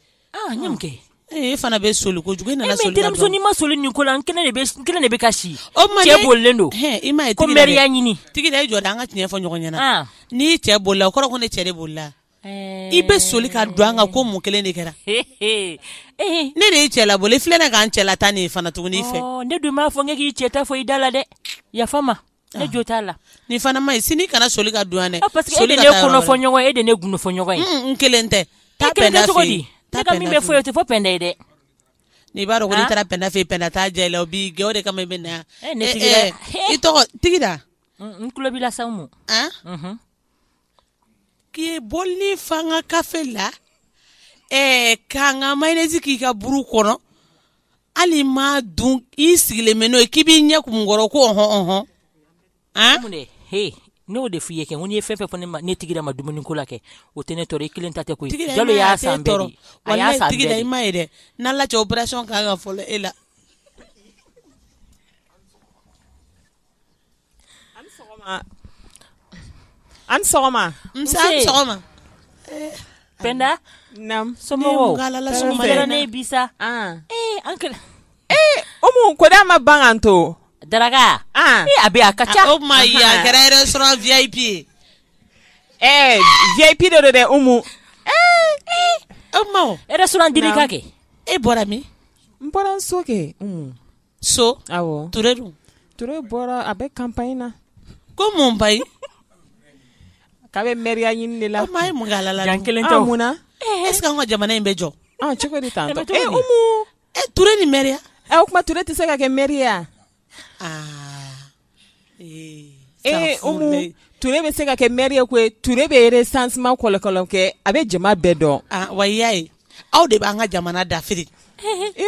e fana bɛ soli kojugu e nana soli ka bɔ n'i ma soli nin ko la n kelen de bɛ ka si cɛ bolilen don i m'a ye ko mɛriya ɲini tigida i jɔ dɛ an ka tiɲɛ fɔ ɲɔgɔn ɲɛna n'i cɛ bolila o kɔrɔ ko ne cɛ de bolila i bɛ soli ka don an kan ko mun kelen de kɛra ne de y'i cɛ labɔ i filɛ ne k'an cɛla tan nin fana tuguni i fɛ ne dun m'a fɔ ne k'i cɛ ta fɔ i da la dɛ yafa n ma E jo t'a la nin fana man ɲi sini kana soli ka don yan dɛ parce que e de ne kɔnɔ fɔ ɲɔgɔn ye e de ne gundo fɔ ɲɔgɔn ye n kelen tɛ taa cogo min bɛ fɔ i ye o tɛ fɔ pɛnda ye dɛ n'i b'a dɔn ko n'i taara pɛnda fɛ pɛnda t'a jɛ la o b'i gɛn o de kama i bɛ na yan i tɔgɔ tigida n tulo b'i la sa ma K'i bɔli fa an ka kafe la ɛɛ k'an ka mayonnaise k'i ka buru kɔnɔ hali m'a dun i sigilen bɛ n'o ye k'i b'i ɲɛ kumu n kɔrɔ ko ɔnhɔn n'o de f'i ye kɛ ko n'i ye fɛn fɛn fɔ ne tigida ma dumuni ko la kɛ o tɛ ne tɔɔrɔ i kelen ta tɛ koyi jalo y'a san i m'a ye dɛ n'a lajɛ opération kan ka fɔlɔ e la An sɔgɔma pɛnda somɔgɔw umu ko da ma ban k'an to daraka a bɛ a ka ca o ma ye a kɛra restaurant vip ye ɛɛ vip don dɛ umu e ma restaurant dilika kɛ e bɔra min n bɔra so kɛ so ture dun ture bɔra a bɛ campagne na ko mun ba ye k'a bɛ mɛriya ɲini de la ye mun alala kelen tɛ mun na est-ce que an ka jamana in bɛ jɔ cogo di ture ni mɛriya o tuma ture tɛ se ka kɛ mɛri ye ture bɛ se ka kɛ mɛri ye koyi ture bɛ recensement kɔlɔkɔlɔ kɛ a bɛ jama bɛɛ dɔn wa i y'a ye aw de b'an ka jamana dafiri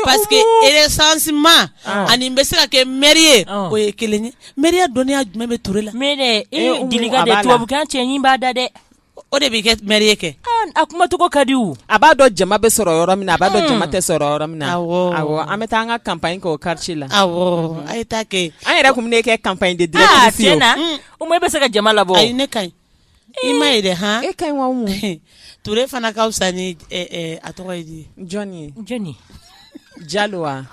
parce que recensement ani i bɛ se ka kɛ mɛri ye o ye kelen ye mɛri dɔnniya jumɛn bɛ ture la tubabukan cɛɲi b'a da la dɛ o de b'i kɛ maire ye kɛ a kumacogo ka di a b'a dɔn jama bɛ sɔrɔ yɔrɔ min a b'a dɔn jama tɛ sɔrɔ yɔrɔ min na an bɛ taa an ka campagne kɛ o quartier la a ye taa kɛ an yɛrɛ tun bɛ ne kɛ campagne de directrice ye tiɲɛ na o ma e bɛ se ka jama labɔ ayi ne ka ɲi i ma ye dɛ han e ka ɲi Ture fana ka fisa ni a tɔgɔ ye di jɔn ye jɔnni jalo wa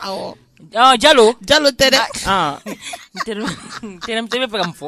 jalo jalo tɛ dɛ n tɛnɛ b'a fɛ k'a fɔ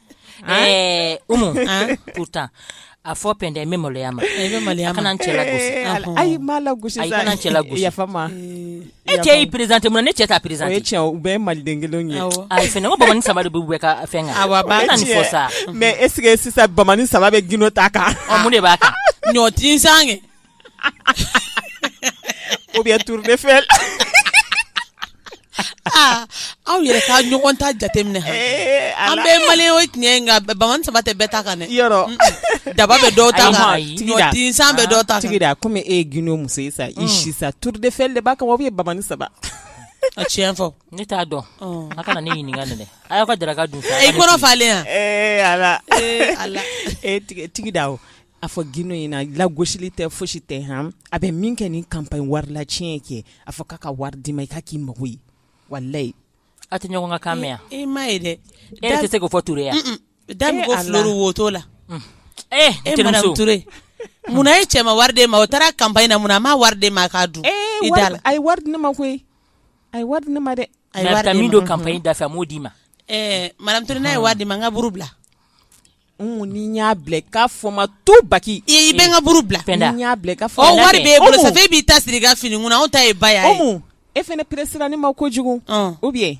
Ɛɛ umu u taa a fɔ p tɛ bɛ maloya ma maloya kana cɛ ayi cɛ ma e cɛ y'i perezte ma ne cɛ taa perez cɛ u bɛɛ maliden kelen ye ayi f bamanan saba de bɛ bɛ ka fɛn fɔ sa mɛ e sisan bamanan saba bɛ glo ta kan de b'a kan ɲɔti san ou bien tour d'Eiffel aw yɛrɛ ka ɲɔgɔn ta jateminɛ an bɛ mali o tiɲɛ bamanin saba tɛ bɛɛ ta kan daba bɛ dɔw ta kan tinsan bɛ dɔw ta kan komi e ye Gindo muso ye sa i si sa tour d'Eiffel de b'a kan wa ou bien bamanin saba a tiɲɛ fɔ ne t'a dɔn a kana ne ɲininka dɛ a y'aw ka daraka dun i kɔnɔ falen yan e tigida A fɔ Gindo ɲɛna lagosili tɛ fosi tɛ a bɛ min kɛ nin campagne wari la tiɲɛ kɛ a fɔ k'a ka wari d'i ma i k'a k'i mako ye walayi a tɛ ɲɔgɔn kan mɛn e ma ye dɛ e tɛ se k'o fɔ Ture yan da woto la e e munna e cɛ ma wari d'e ma o taara campagne na munna a ma wari d'e ma k'a dun e da la a ye wari di ne ma koyi a ye wari di ne ma dɛ a bɛ taa min don campagne da fɛ a m'o d'i ma ɛɛ madame Ture n'a ye wari d'i ma n ka buru bila Ni n y'a bila k'a fɔ ma to baki i bɛ n ka buru bila wari b'e bolo e b'i ta siri i ka fini kunna anw ta ye ba e fɛnɛ pressé ne ma kojugu ou bien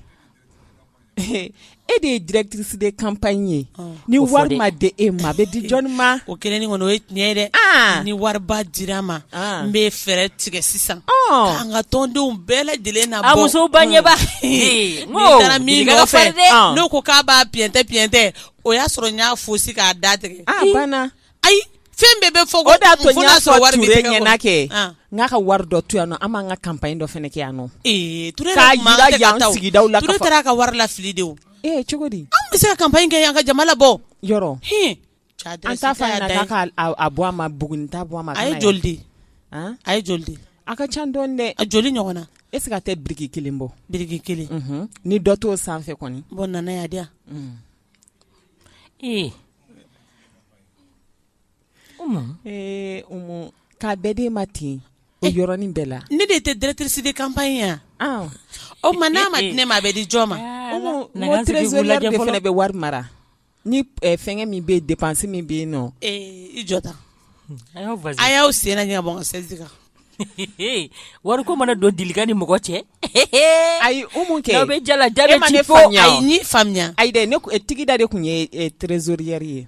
e de ye directrice de campagne ye ni wari ma di e ma a bɛ di jɔnni ma o kelen kɔni o ye tiɲɛ ye dɛ ni wari dira n ma n bɛ fɛɛrɛ tigɛ sisan an ka tɔndenw bɛɛ lajɛlen na muso banba taara min fɛ n'o ko k'a b'a piyɛntɛ o y'a sɔrɔ n y'a fosi k'a da tigɛ ah, banna ayi fɛn bɛɛ bɛ fɔ o de y'a to n y'a fɔ Ture ɲɛna kɛ ah. n k'a ka wari dɔ to yan nɔ an b'an ka campagne dɔ fɛnɛ kɛ yan nɔ ee Ture k'a yira yan sigidaw la Ture taara ka wari lafili de o ee cogo di an bɛ se ka campagne kɛ yan ka jama labɔ yɔrɔ an t'a fɔ a ɲɛna k'a k'a bɔ a ma Buguni t'a bɔ a ma a ye joli di a ye joli di A ka ca dɔɔni dɛ a joli ɲɔgɔn na est-ce que a tɛ biriki kelen bɔ biriki kelen ni dɔ t'o sanfɛ kɔni bon nana y'a di ee ee k'a bɛɛ d'e ma ten o yɔrɔnin bɛɛ la ne de tɛ directrice de campagne yan o ma n'a ma di ne ma a bɛ di jɔn ma o trésorière de fɛnɛ bɛ wari mara Ni fɛn min bɛ dépense min bɛ yen nɔn i jɔ tan a y'aw sen ɲɛsɛn kan wari ko mana don deli ni mɔgɔ cɛ ayi kɛ bɛ jala ja faamuya ayi ne Tigida de tun ye trésorière ye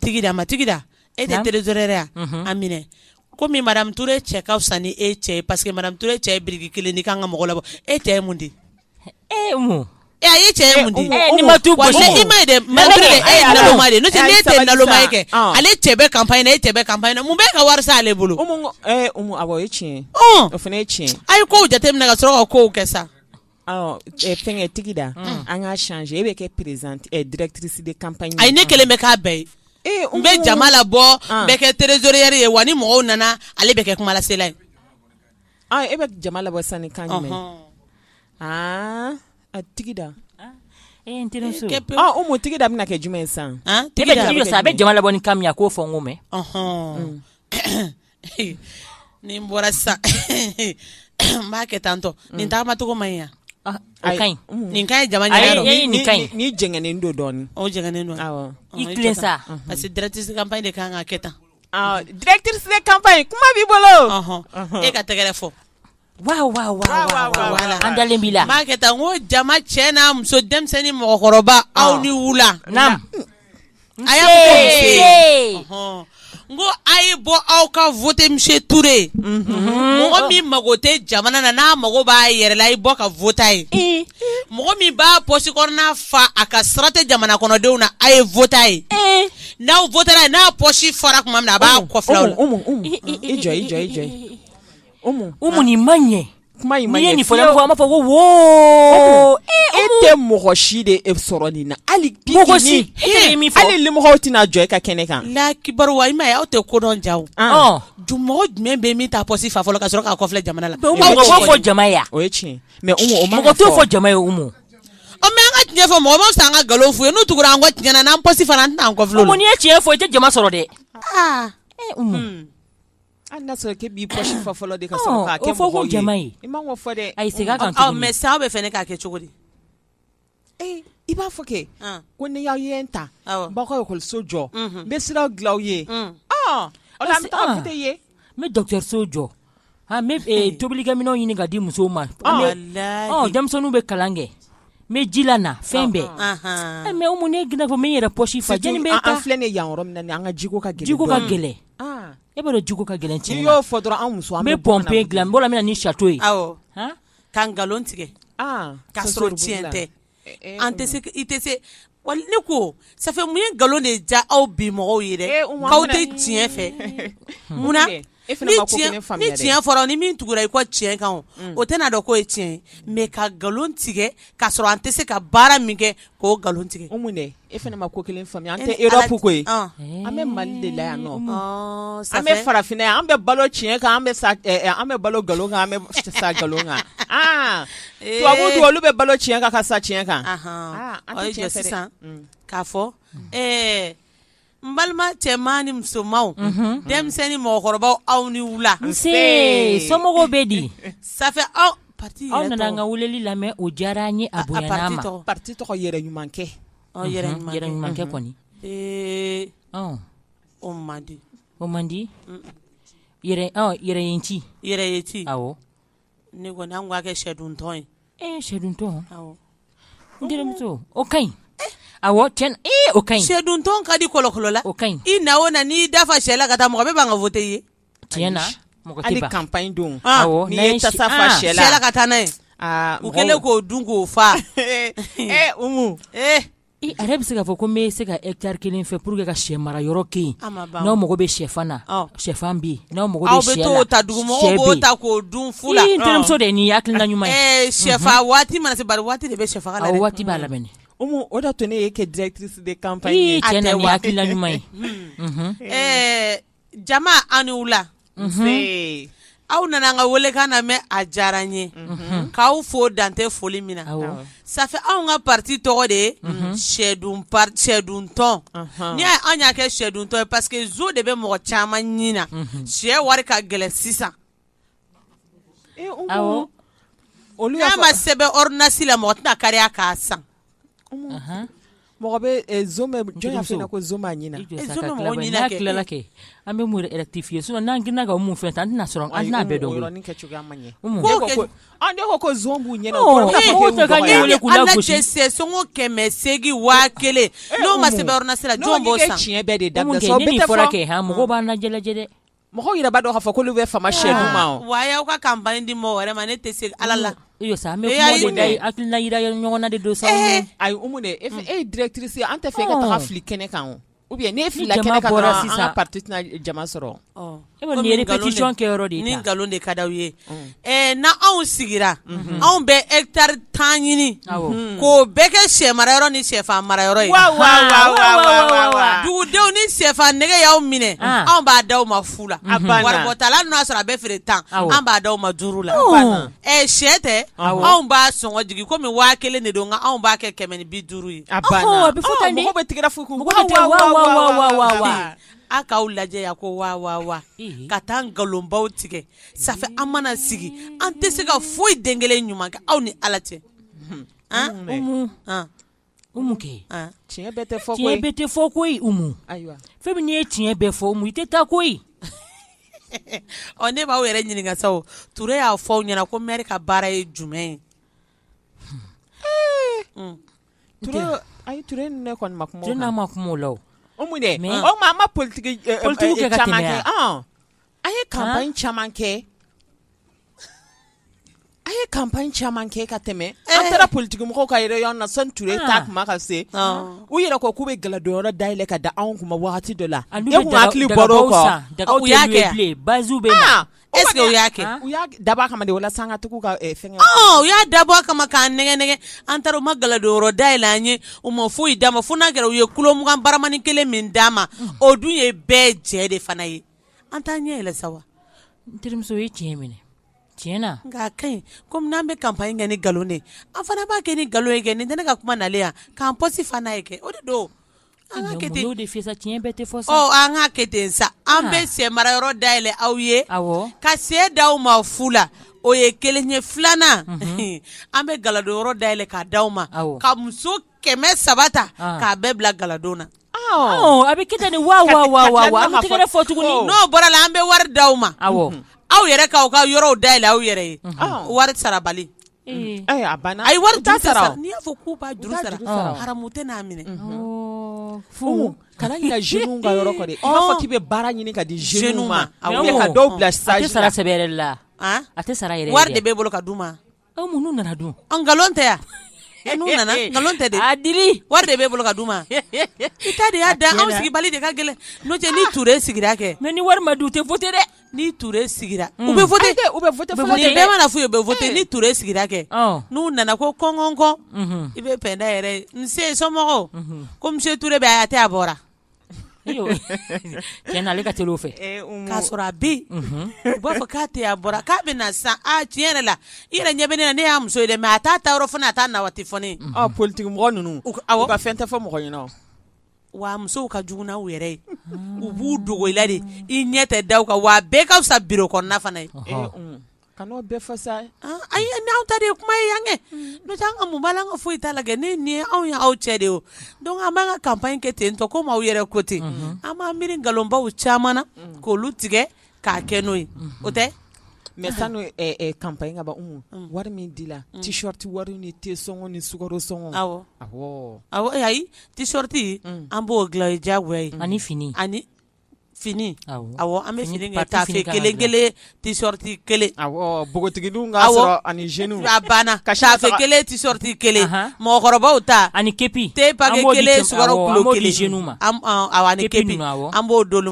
Tigida ma Tigida e tɛ trésorière a minɛ komi madame Ture cɛ ka fisa ni e cɛ ye parce que madame Ture cɛ ye biriki kelen di k'an ka mɔgɔ labɔ e cɛ ye mun di e e ye cɛ ye mun di ma ma kɛ ale cɛ bɛ campagne na e cɛ bɛ campagne na mun bɛ ka wari ale bolo tiɲɛ o fana ye tiɲɛ a ye kow jateminɛ ka sɔrɔ ka kow kɛ sa Fɛn Tigida an k'a changer e bɛ kɛ présidente directrice de campagne ayi ne kelen bɛ k'a bɛɛ ye n bɛ jama labɔ n bɛ kɛ trésorière ye wa ni mɔgɔw nana ale bɛ kɛ kumalasela ye e bɛ jama labɔ sisan ni kan jumɛn a Tigida e n teri Umu Tigida bɛna kɛ jumɛn ye sisan a bɛ jama labɔ ni kan min ye a k'o fɔ n ko mɛn ni n bɔra sisan n b'a kɛ tan tɔ nin tagamacogo man ɲi yan ah, mm. nin ka ɲi jama ni jɛngɛnen don dɔɔnin o jɛngɛnen don i tilen sa parce que directrice de campagne de kan ka kɛ tan directrice de campagne kuma b'i bolo e ka tɛgɛrɛ fɔ an dalen b'i la n b'a kɛ tan n ko jama cɛ n'a muso denmisɛnnin mɔgɔkɔrɔba aw ni wula a y'a fɔ n ko a ye bɔ aw ka voter monsieur Ture ye mɔgɔ min mago tɛ jamana na n'a mago b'a yɛrɛ la a ye bɔ ka voter a ye mɔgɔ min b'a pɔsi kɔnɔna fa a ka sira tɛ jamana kɔnɔdenw na a ye voter a ye n'aw n'a pɔsi fara tuma min na a b'a kɔ Umu nin ma ɲɛ kuma in ma ɲɛ fiyewu, n'i ye nin fɔ an b'a fɔ ko woo, e tɛ mɔgɔ si de sɔrɔ nin na hali pigini, mɔgɔ si, e tɛ k'i min fɔ, hali limɔgɔw tɛna jɔ e ka kɛnɛ kan, Alahu akibaru, wa i m'a ye aw tɛ ko dɔn ja o, ɔn, mɔgɔ jumɛn bɛ yen min t'a pɔsi fa fɔlɔ ka sɔrɔ k'a kɔfilɛ jama la, Umu mɔgɔ b'o fɔ jama ye wa, o ye tiɲɛ ye, mais Umu o man ka fɔ, mɔgɔ t'o fɔ jama ye Umu, ɔ mais an ka tiɲɛ fɔ mɔgɔ ma fisa an ka nkalon f'u ye n'u tugura an kɔ tiɲɛ na n'an pɔsi fara an tɛna an kɔfilɛ u la, Umu n'i ye tiɲɛ fɔ i tɛ jama sɔrɔ dɛ, aa, ee Umu Hali n'a sɔrɔ k'e b'i poche fa fɔlɔ de ka sɔrɔ k'a kɛ mɔgɔw ye, ɔ, o fɔ ko jama ye, i man k'o fɔ dɛ, ayi segin a kan tuguni, ɔ mais sisan aw b'a fɛ ne k'a kɛ cogo di, ee i b'a fɔ kɛ, ɔn, ko ni y'aw ye n ta, awɔ, n b'aw ka ekɔliso jɔ, unhun, n bɛ siraw dilan aw ye, un, ɔ, o la an bɛ taa voter i ye, n bɛ dɔgɔtɔrɔso jɔ, aa n bɛ tobilikɛminɛnw ɲini ka di musow ma, walahi, ɔ denmisɛnninw bɛ kalan kɛ n bɛ ji lana fɛn bɛɛ, ɔnhɔn, ɛ mais Umu n'e girinna ko n bɛ n yɛrɛ poche fa, jɔni bɛ e ta, an filɛ nin ye yan yɔrɔ min na nin ye, an ka jiko ka gɛlɛn, jiko ka gɛlɛn E b'a dɔn jiko ka gɛlɛn tiɲɛ n'i y'o fɔ dɔrɔn anw muso an bɛ pompe dilan n bɔra min na ni château ye ka nkalon tigɛ k'a sɔrɔ tiɲɛ tɛ an tɛ i tɛ se wa ne ko ça fait mun ye nkalon de ja aw bi mɔgɔw ye aw tɛ tiɲɛ fɛ munna ni tiɲɛ fɔra ni min tugura i kɔ tiɲɛ kan o tɛna a dɔn k'o ye tiɲɛ ye mais ka nkalon tigɛ k'a sɔrɔ an tɛ se ka baara min kɛ K'o nkalon tigɛ ko mun e fana ma ko kelen faamuya an tɛ Europe ko an bɛ Mali de la yan an bɛ farafinna yan an bɛ balo tiɲɛ kan an bɛ an bɛ balo nkalon kan an bɛ sa nkalon kan tubabu olu bɛ balo tiɲɛ kan ka sa tiɲɛ kan sisan k'a fɔ n balima cɛman ni musomanw denmisɛnnin ni mɔgɔkɔrɔbaw aw ni wula nse somɔgɔw bɛ di ça fait aw nana an ka weleli lamɛn o diyara an ye a bonyana an ma parti tɔgɔ yɛrɛ ɲuman kɛ yɛrɛ ɲuman kɛ kɔni ee o man di o man di yɛrɛ ci yɛrɛ ye ci aw ne kɔni an k'a kɛ sɛduntɔn ye e ye sɛduntɔn n terimuso o ka ɲi awɔ tiɲɛ o ka ɲi sɛduntɔn ka di kɔlɔkɔlɔ la o ka ɲi i na o na n'i da fa sɛ la ka taa mɔgɔ bɛ ban ka voter ye tiɲɛ na mɔgɔ tɛ ban campagne don n'i ye tasa fa sɛ la ka taa n'a ye u kɛlen k'o dun k'o fa ee A'a bɛ se k'a fɔ ko n bɛ se ka hectare kelen fɛ pour que ka sɛ mara yɔrɔ kɛ yen n'aw mago bɛ shɛfan na shɛfan bɛ yen n'aw mago bɛ sɛ la aw bɛ t'o ta dugumɔgɔw b'o ta k'o dun fu la n terimuso de ye nin hakilina ɲuman ye shɛfa waati mana se waati de bɛ shɛfaga la waati b'a la Umu o d'a to ne y'e kɛ directrice de campagne ye ɛɛ Jama aw ni wula. Nse. Aw nana an ka welekan lamɛn a diyara an ye. Unhun. K'aw fo dan tɛ foli min na. Awɔ. Ça fait anw ka parti tɔgɔ de ye. Unhun. Sɛdun par sɛduntɔn. Ɔnhɔn. N'i y'a ye anw y'a kɛ sɛduntɔn ye parce que zo de bɛ mɔgɔ caman ɲin na. Unhun. Sɛ wari ka gɛlɛn sisan. N'a ma sɛbɛn ordonnance la mɔgɔ tɛna kariya k'a san mɔgɔ bɛ an bɛ rectifier sinon n'an girinna ka mun fɛn ta an tɛna sɔrɔ an bɛɛ dɔn b'u ɲɛ kɛmɛ segin waa kelen n'o ma sɛbɛn ordonnance la jɔn tiɲɛ bɛɛ de da mɔgɔw b'an lajɛ dɛ mɔgɔw yɛrɛ b'a dɔn k'a fɔ k'olu bɛ fama siyɛn duman o, aa, wa a y'aw ka campagne di mɔgɔ wɛrɛ ma ne tɛ se Ala la, iyo sa, an bɛ kuma de da yen, hakilina jira ɲɔgɔn na de don sa, ee, ayi Umu dɛ e ye directrice ye an t'a fɛ e ka taga fili kɛnɛ kan o, ou bien n'e filila kɛnɛ kan dɔrɔn an ka parti tɛna jama sɔrɔ, ɔ, e kɔni ye répétition kɛ yɔrɔ de ye, ni nkalon de ka d'aw ye ɛ na anw sigira anw bɛ etari tan ɲini k'o bɛɛ kɛ shɛ mara yɔrɔ ni shɛfan mara yɔrɔ ye dugudenw ni shɛfan nege y'aw minɛ anw b'a d'aw ma fu la wari bɔ t'a la n'o y'a sɔrɔ a bɛ feere tan an b'a d'aw ma duuru la ɛ shɛ tɛ anw b'a sɔngɔ jigin kɔmi waa kelen de don anw b'a kɛ kɛmɛ ni bi duuru ye a bɛ aw k'aw lajɛ ko ka taa nkalonbaw tigɛ ça fait an mana sigi an tɛ se ka foyi den kelen ɲuman kɛ aw ni ala cɛ tiɲɛ bɛɛ tɛ fɔ koyi fɛn min ye tiɲɛ bɛɛ fɔ i tɛ taa koyi ɔ ne b'aw yɛrɛ ɲininka sa Ture y'a fɔ aw ɲɛna ko mɛri ka baara ye jumɛn ye hmm. ayi Ture ne kɔni ma kuma n'a ma kuma la Umu dɛ mɛ ma politigi politigi kɛ ka tɛmɛ A ye kanpaɲi caman kɛ a ye kanpaɲi caman kɛ ka tɛmɛ an taara politigimɔgɔ ka réunion na sani Ture ta kuma ka se u yɛrɛ ko k'u bɛ galadon yɔrɔ dayɛlɛ ka da anw kun waati dɔ la baro e dabɔ a kama walasa an ka tugu ka fɛn u y'a dabɔ a kama k'an nɛgɛn nɛgɛn an taara u ma galadon yɔrɔ dayɛlɛ an ye u ma foyi d'an ma fo n'a kɛra u ye kilo mugan baramani kelen min d'an ma o dun ye bɛɛ jɛ de fana ye an t'an ɲɛ yɛlɛ sa wa n terimuso ye tiɲɛ minɛ tiɲɛ na nka a ka ɲi komi n'an bɛ kanpaɲi kɛ ni nkalon de ye an fana b'a kɛ ni nkalon ye kɛ nin tɛ ne ka kuma nalen yan k'an pɔsi fa n'a ye kɛ o de don an k'a kɛ ten n'o de fɛ sa tiɲɛ bɛɛ tɛ fɔ sa ɔ an k'a kɛ ten sa an bɛ shɛ mara yɔrɔ dayɛlɛ aw ye awɔ ka shɛ d'aw ma fu la o ye kelen ye filanan an bɛ galadon yɔrɔ dayɛlɛ k'a di aw ma awɔ ka muso Kɛmɛ saba ta k'a bɛɛ bila galadon na a bɛ kɛ ten ni wa an bɛ tɛgɛ fɔ tuguni n'o bɔra la an bɛ wari di aw ma aw aw yɛrɛ k'aw ka yɔrɔw dayɛlɛ aw yɛrɛ ye wari sara bali ayi wari tɛ sara n'i y'a fɔ ko sara haramu tɛ n'a minɛ fo kana ɲinɛ jeunes ka yɔrɔ kɔ dɛ i b'a fɔ k'i bɛ baara ɲini ka di jeunes ma ka dɔw bila stage la a tɛ sara sɛbɛ la a tɛ sara wari de b'e bolo ka d'u ma An n'u nana dun an nkalon tɛ yan n'u nana nkalon tɛ a di wari de b'e bolo ka d'u ma i ta de y'a da anw sigi bali de ka gɛlɛn n'o tɛ ni ture sigira kɛ mɛ ni wari ma di u tɛ wote dɛ ni ture sigira u bɛ mana fɔ u bɛ wote ni ture sigira kɛ n'u nana ko kɔn kɔn kɔn i bɛ Pɛnda yɛrɛ nse somɔgɔw ko misiye ture bɛ a tɛ a bɔra cɛn na ale ka teli o fɛ, ee Umu, k'a sɔrɔ a bɛ yen, unhun, u b'a fɔ k'a tɛ yen a bɔra k'a bɛ na sisan aa tiɲɛ yɛrɛ la i yɛrɛ ɲɛ bɛ ne na ne y'a muso ye dɛ mais a t'a taa yɔrɔ fɔ ne ye a t'a na waati fɔ ne ye, ɔ politiki mɔgɔ ninnu u ka fɛn tɛ fɔ mɔgɔ ɲɛna o, wa musow ka jugu n'u yɛrɛ ye, u b'u dogo i la de i ɲɛ tɛ da u kan wa a bɛɛ ka fisa bureau kɔnɔna fana ye, ɔhɔ, ee Umu Kan'o bɛɛ fɔ sa ayi ye n'aw ta de ye kuma ye yan kɛ n'o tɛ an ka mun b'a la an ka foyi t'a la kɛ ne nin ye anw ye aw cɛ de ye dɔnku an b'an ka kanpaɲi kɛ ten tɔ komi aw yɛrɛ ko ten an b'an miiri nkalonbaw caman na k'olu tigɛ k'a kɛ n'o ye o tɛ mɛ sanni kanpaɲi ka ban wari min dila tishɔriti wari ni te sɔngɔ ni sukaro sɔngɔ a ayi tishɔriti an b'o dilan diyagoya ye ani fini ani fini an bɛ fini taafe kelen tishɔriti kelen npogotigi banna taafe kelen tishɔriti kelen mɔgɔkɔrɔbaw ta ani kepi kelen pa kelen an b'o d'olu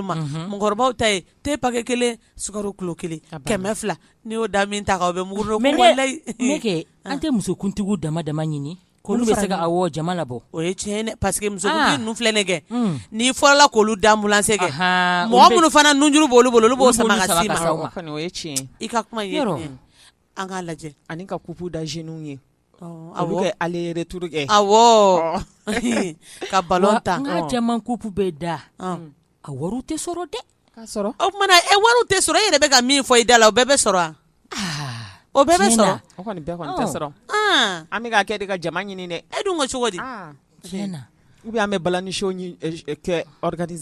ma mɔgɔkɔrɔbaw ta te pakɛ kelen sukaro kilo kelen kɛmɛ fila n'i y'o da min ta kan o bɛ mugu dɔ an tɛ musokuntigiw dama dama ɲini K'olu bɛ se ka jama labɔ o ye tiɲɛ paseke muso ninnu filɛ nin kɛ n'i fɔlɔla k'olu da anbilansi kɛ mɔgɔ minnu fana nunjuru b'olu bolo olu b'o sama ka s'i ma tiɲɛ i ka kuma an k'a lajɛ ani ka kupu da zɛniw ye a bɛ aleretur kɛ ka balɔn ta an ka cɛman kupu bɛ da a wari tɛ sɔrɔ dɛ sɔrɔ o kuma na e wari tɛ sɔrɔ e yɛrɛ bɛ ka min fɔ i da la o bɛɛ bɛ sɔrɔ wa o bɛɛ bɛ sɔrɔ sɔrɔ an bɛ kɛ de ka jama ɲini dɛ e dun ko cogo di ubiyɛn an bɛ balani sho kɛ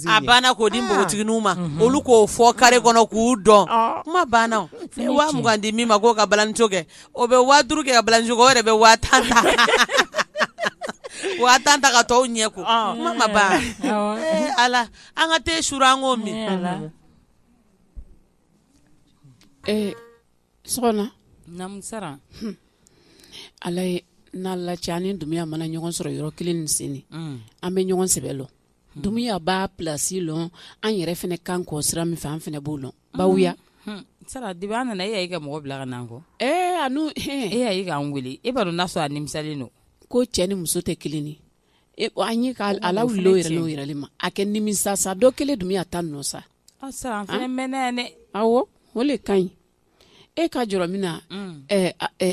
a banna k'o di npogotigininw ma olu k'o fɔ kare kɔnɔ k'u dɔn kuma banna waa mugan di min ma k'o ka balani kɛ o bɛ waa duuru kɛ ka balani sho kɛ o yɛrɛ bɛ waa ta waa tan ta ka tɔw ɲɛ ko kuma ma ban ala an ka te su an k'o min ee sɔgɔmasa ala ye n'ala cɛ ani dumuya mana ɲɔgɔn sɔrɔ yɔrɔ kelen nin sen an bɛ ɲɔgɔn sɛbɛ lɔn dumuya b'a plasi lɔn an yɛrɛ fɛnɛ kan kɔ sira min fɛ an fɛnɛ b'o lɔn bawuya sara de b'a nana e y'a ka mɔgɔ bila ka n'an kɔ ee a e y'an weele e b'a dɔn n'a sɔrɔ a nimisalen don ko cɛ ni muso tɛ kelen e an ye k'a lawuli lo yɛrɛ n'o yɛrɛ le ma a kɛ nimisa sa dɔ kelen dumuya ta nɔ sa awɔ o le ka ɲi e ka jɔrɔ min na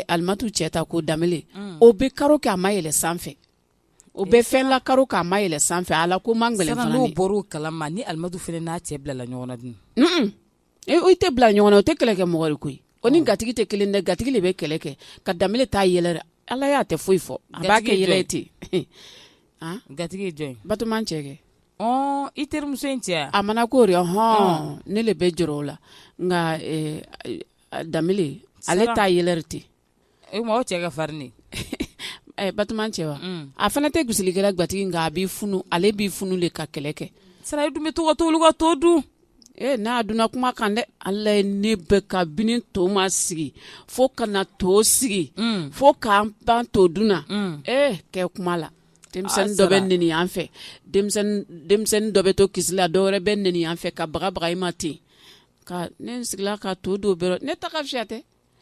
alimatu cɛ ta ko danbele o bɛ karo kɛ a ma yɛlɛ sanfɛ o bɛ fɛn la karo kɛ a ma yɛlɛ sanfɛ ala ko man gɛlɛn kala ni alimatu fana n'a cɛ bilala ɲɔgɔn dun ee o tɛ bila ɲɔgɔn na o tɛ kɛlɛ kɛ mɔgɔ ri koyi o ni gatigi tɛ kelen dɛ gatigi le bɛ kɛlɛ kɛ nka danbele t'a yɛlɛ ala y'a tɛ foyi fɔ a b'a kɛ yɛlɛ ten gatigi ye jɔn ye batoma cɛ kɛ i terimuso in cɛ a mana ko hɔn ne le bɛ jɔrɔ o la nka danbele ale t'a yɛlɛ ten e ma cɛ ka farin Batoma cɛ wa a fana tɛ gosilikɛla gatigi nka a b'i funu ale b'i funu le ka kɛlɛ kɛ sara i dun bɛ to ka t'olu ka to dun ee n'a donna kuma kan dɛ ala ye ne bɛ kabini to ma sigi fo ka na to sigi mm. fo k'an ban to dun na mm. ee kɛ kuma la denmisɛnnin dɔ bɛ neni yan fɛ denmisɛnnin dɔ bɛ to kisi la dɔwɛrɛ bɛ neni yan fɛ ka baga baga i ma ten ka ne sigila ka to don bɛrɛ ne ta ka fiyɛ tɛ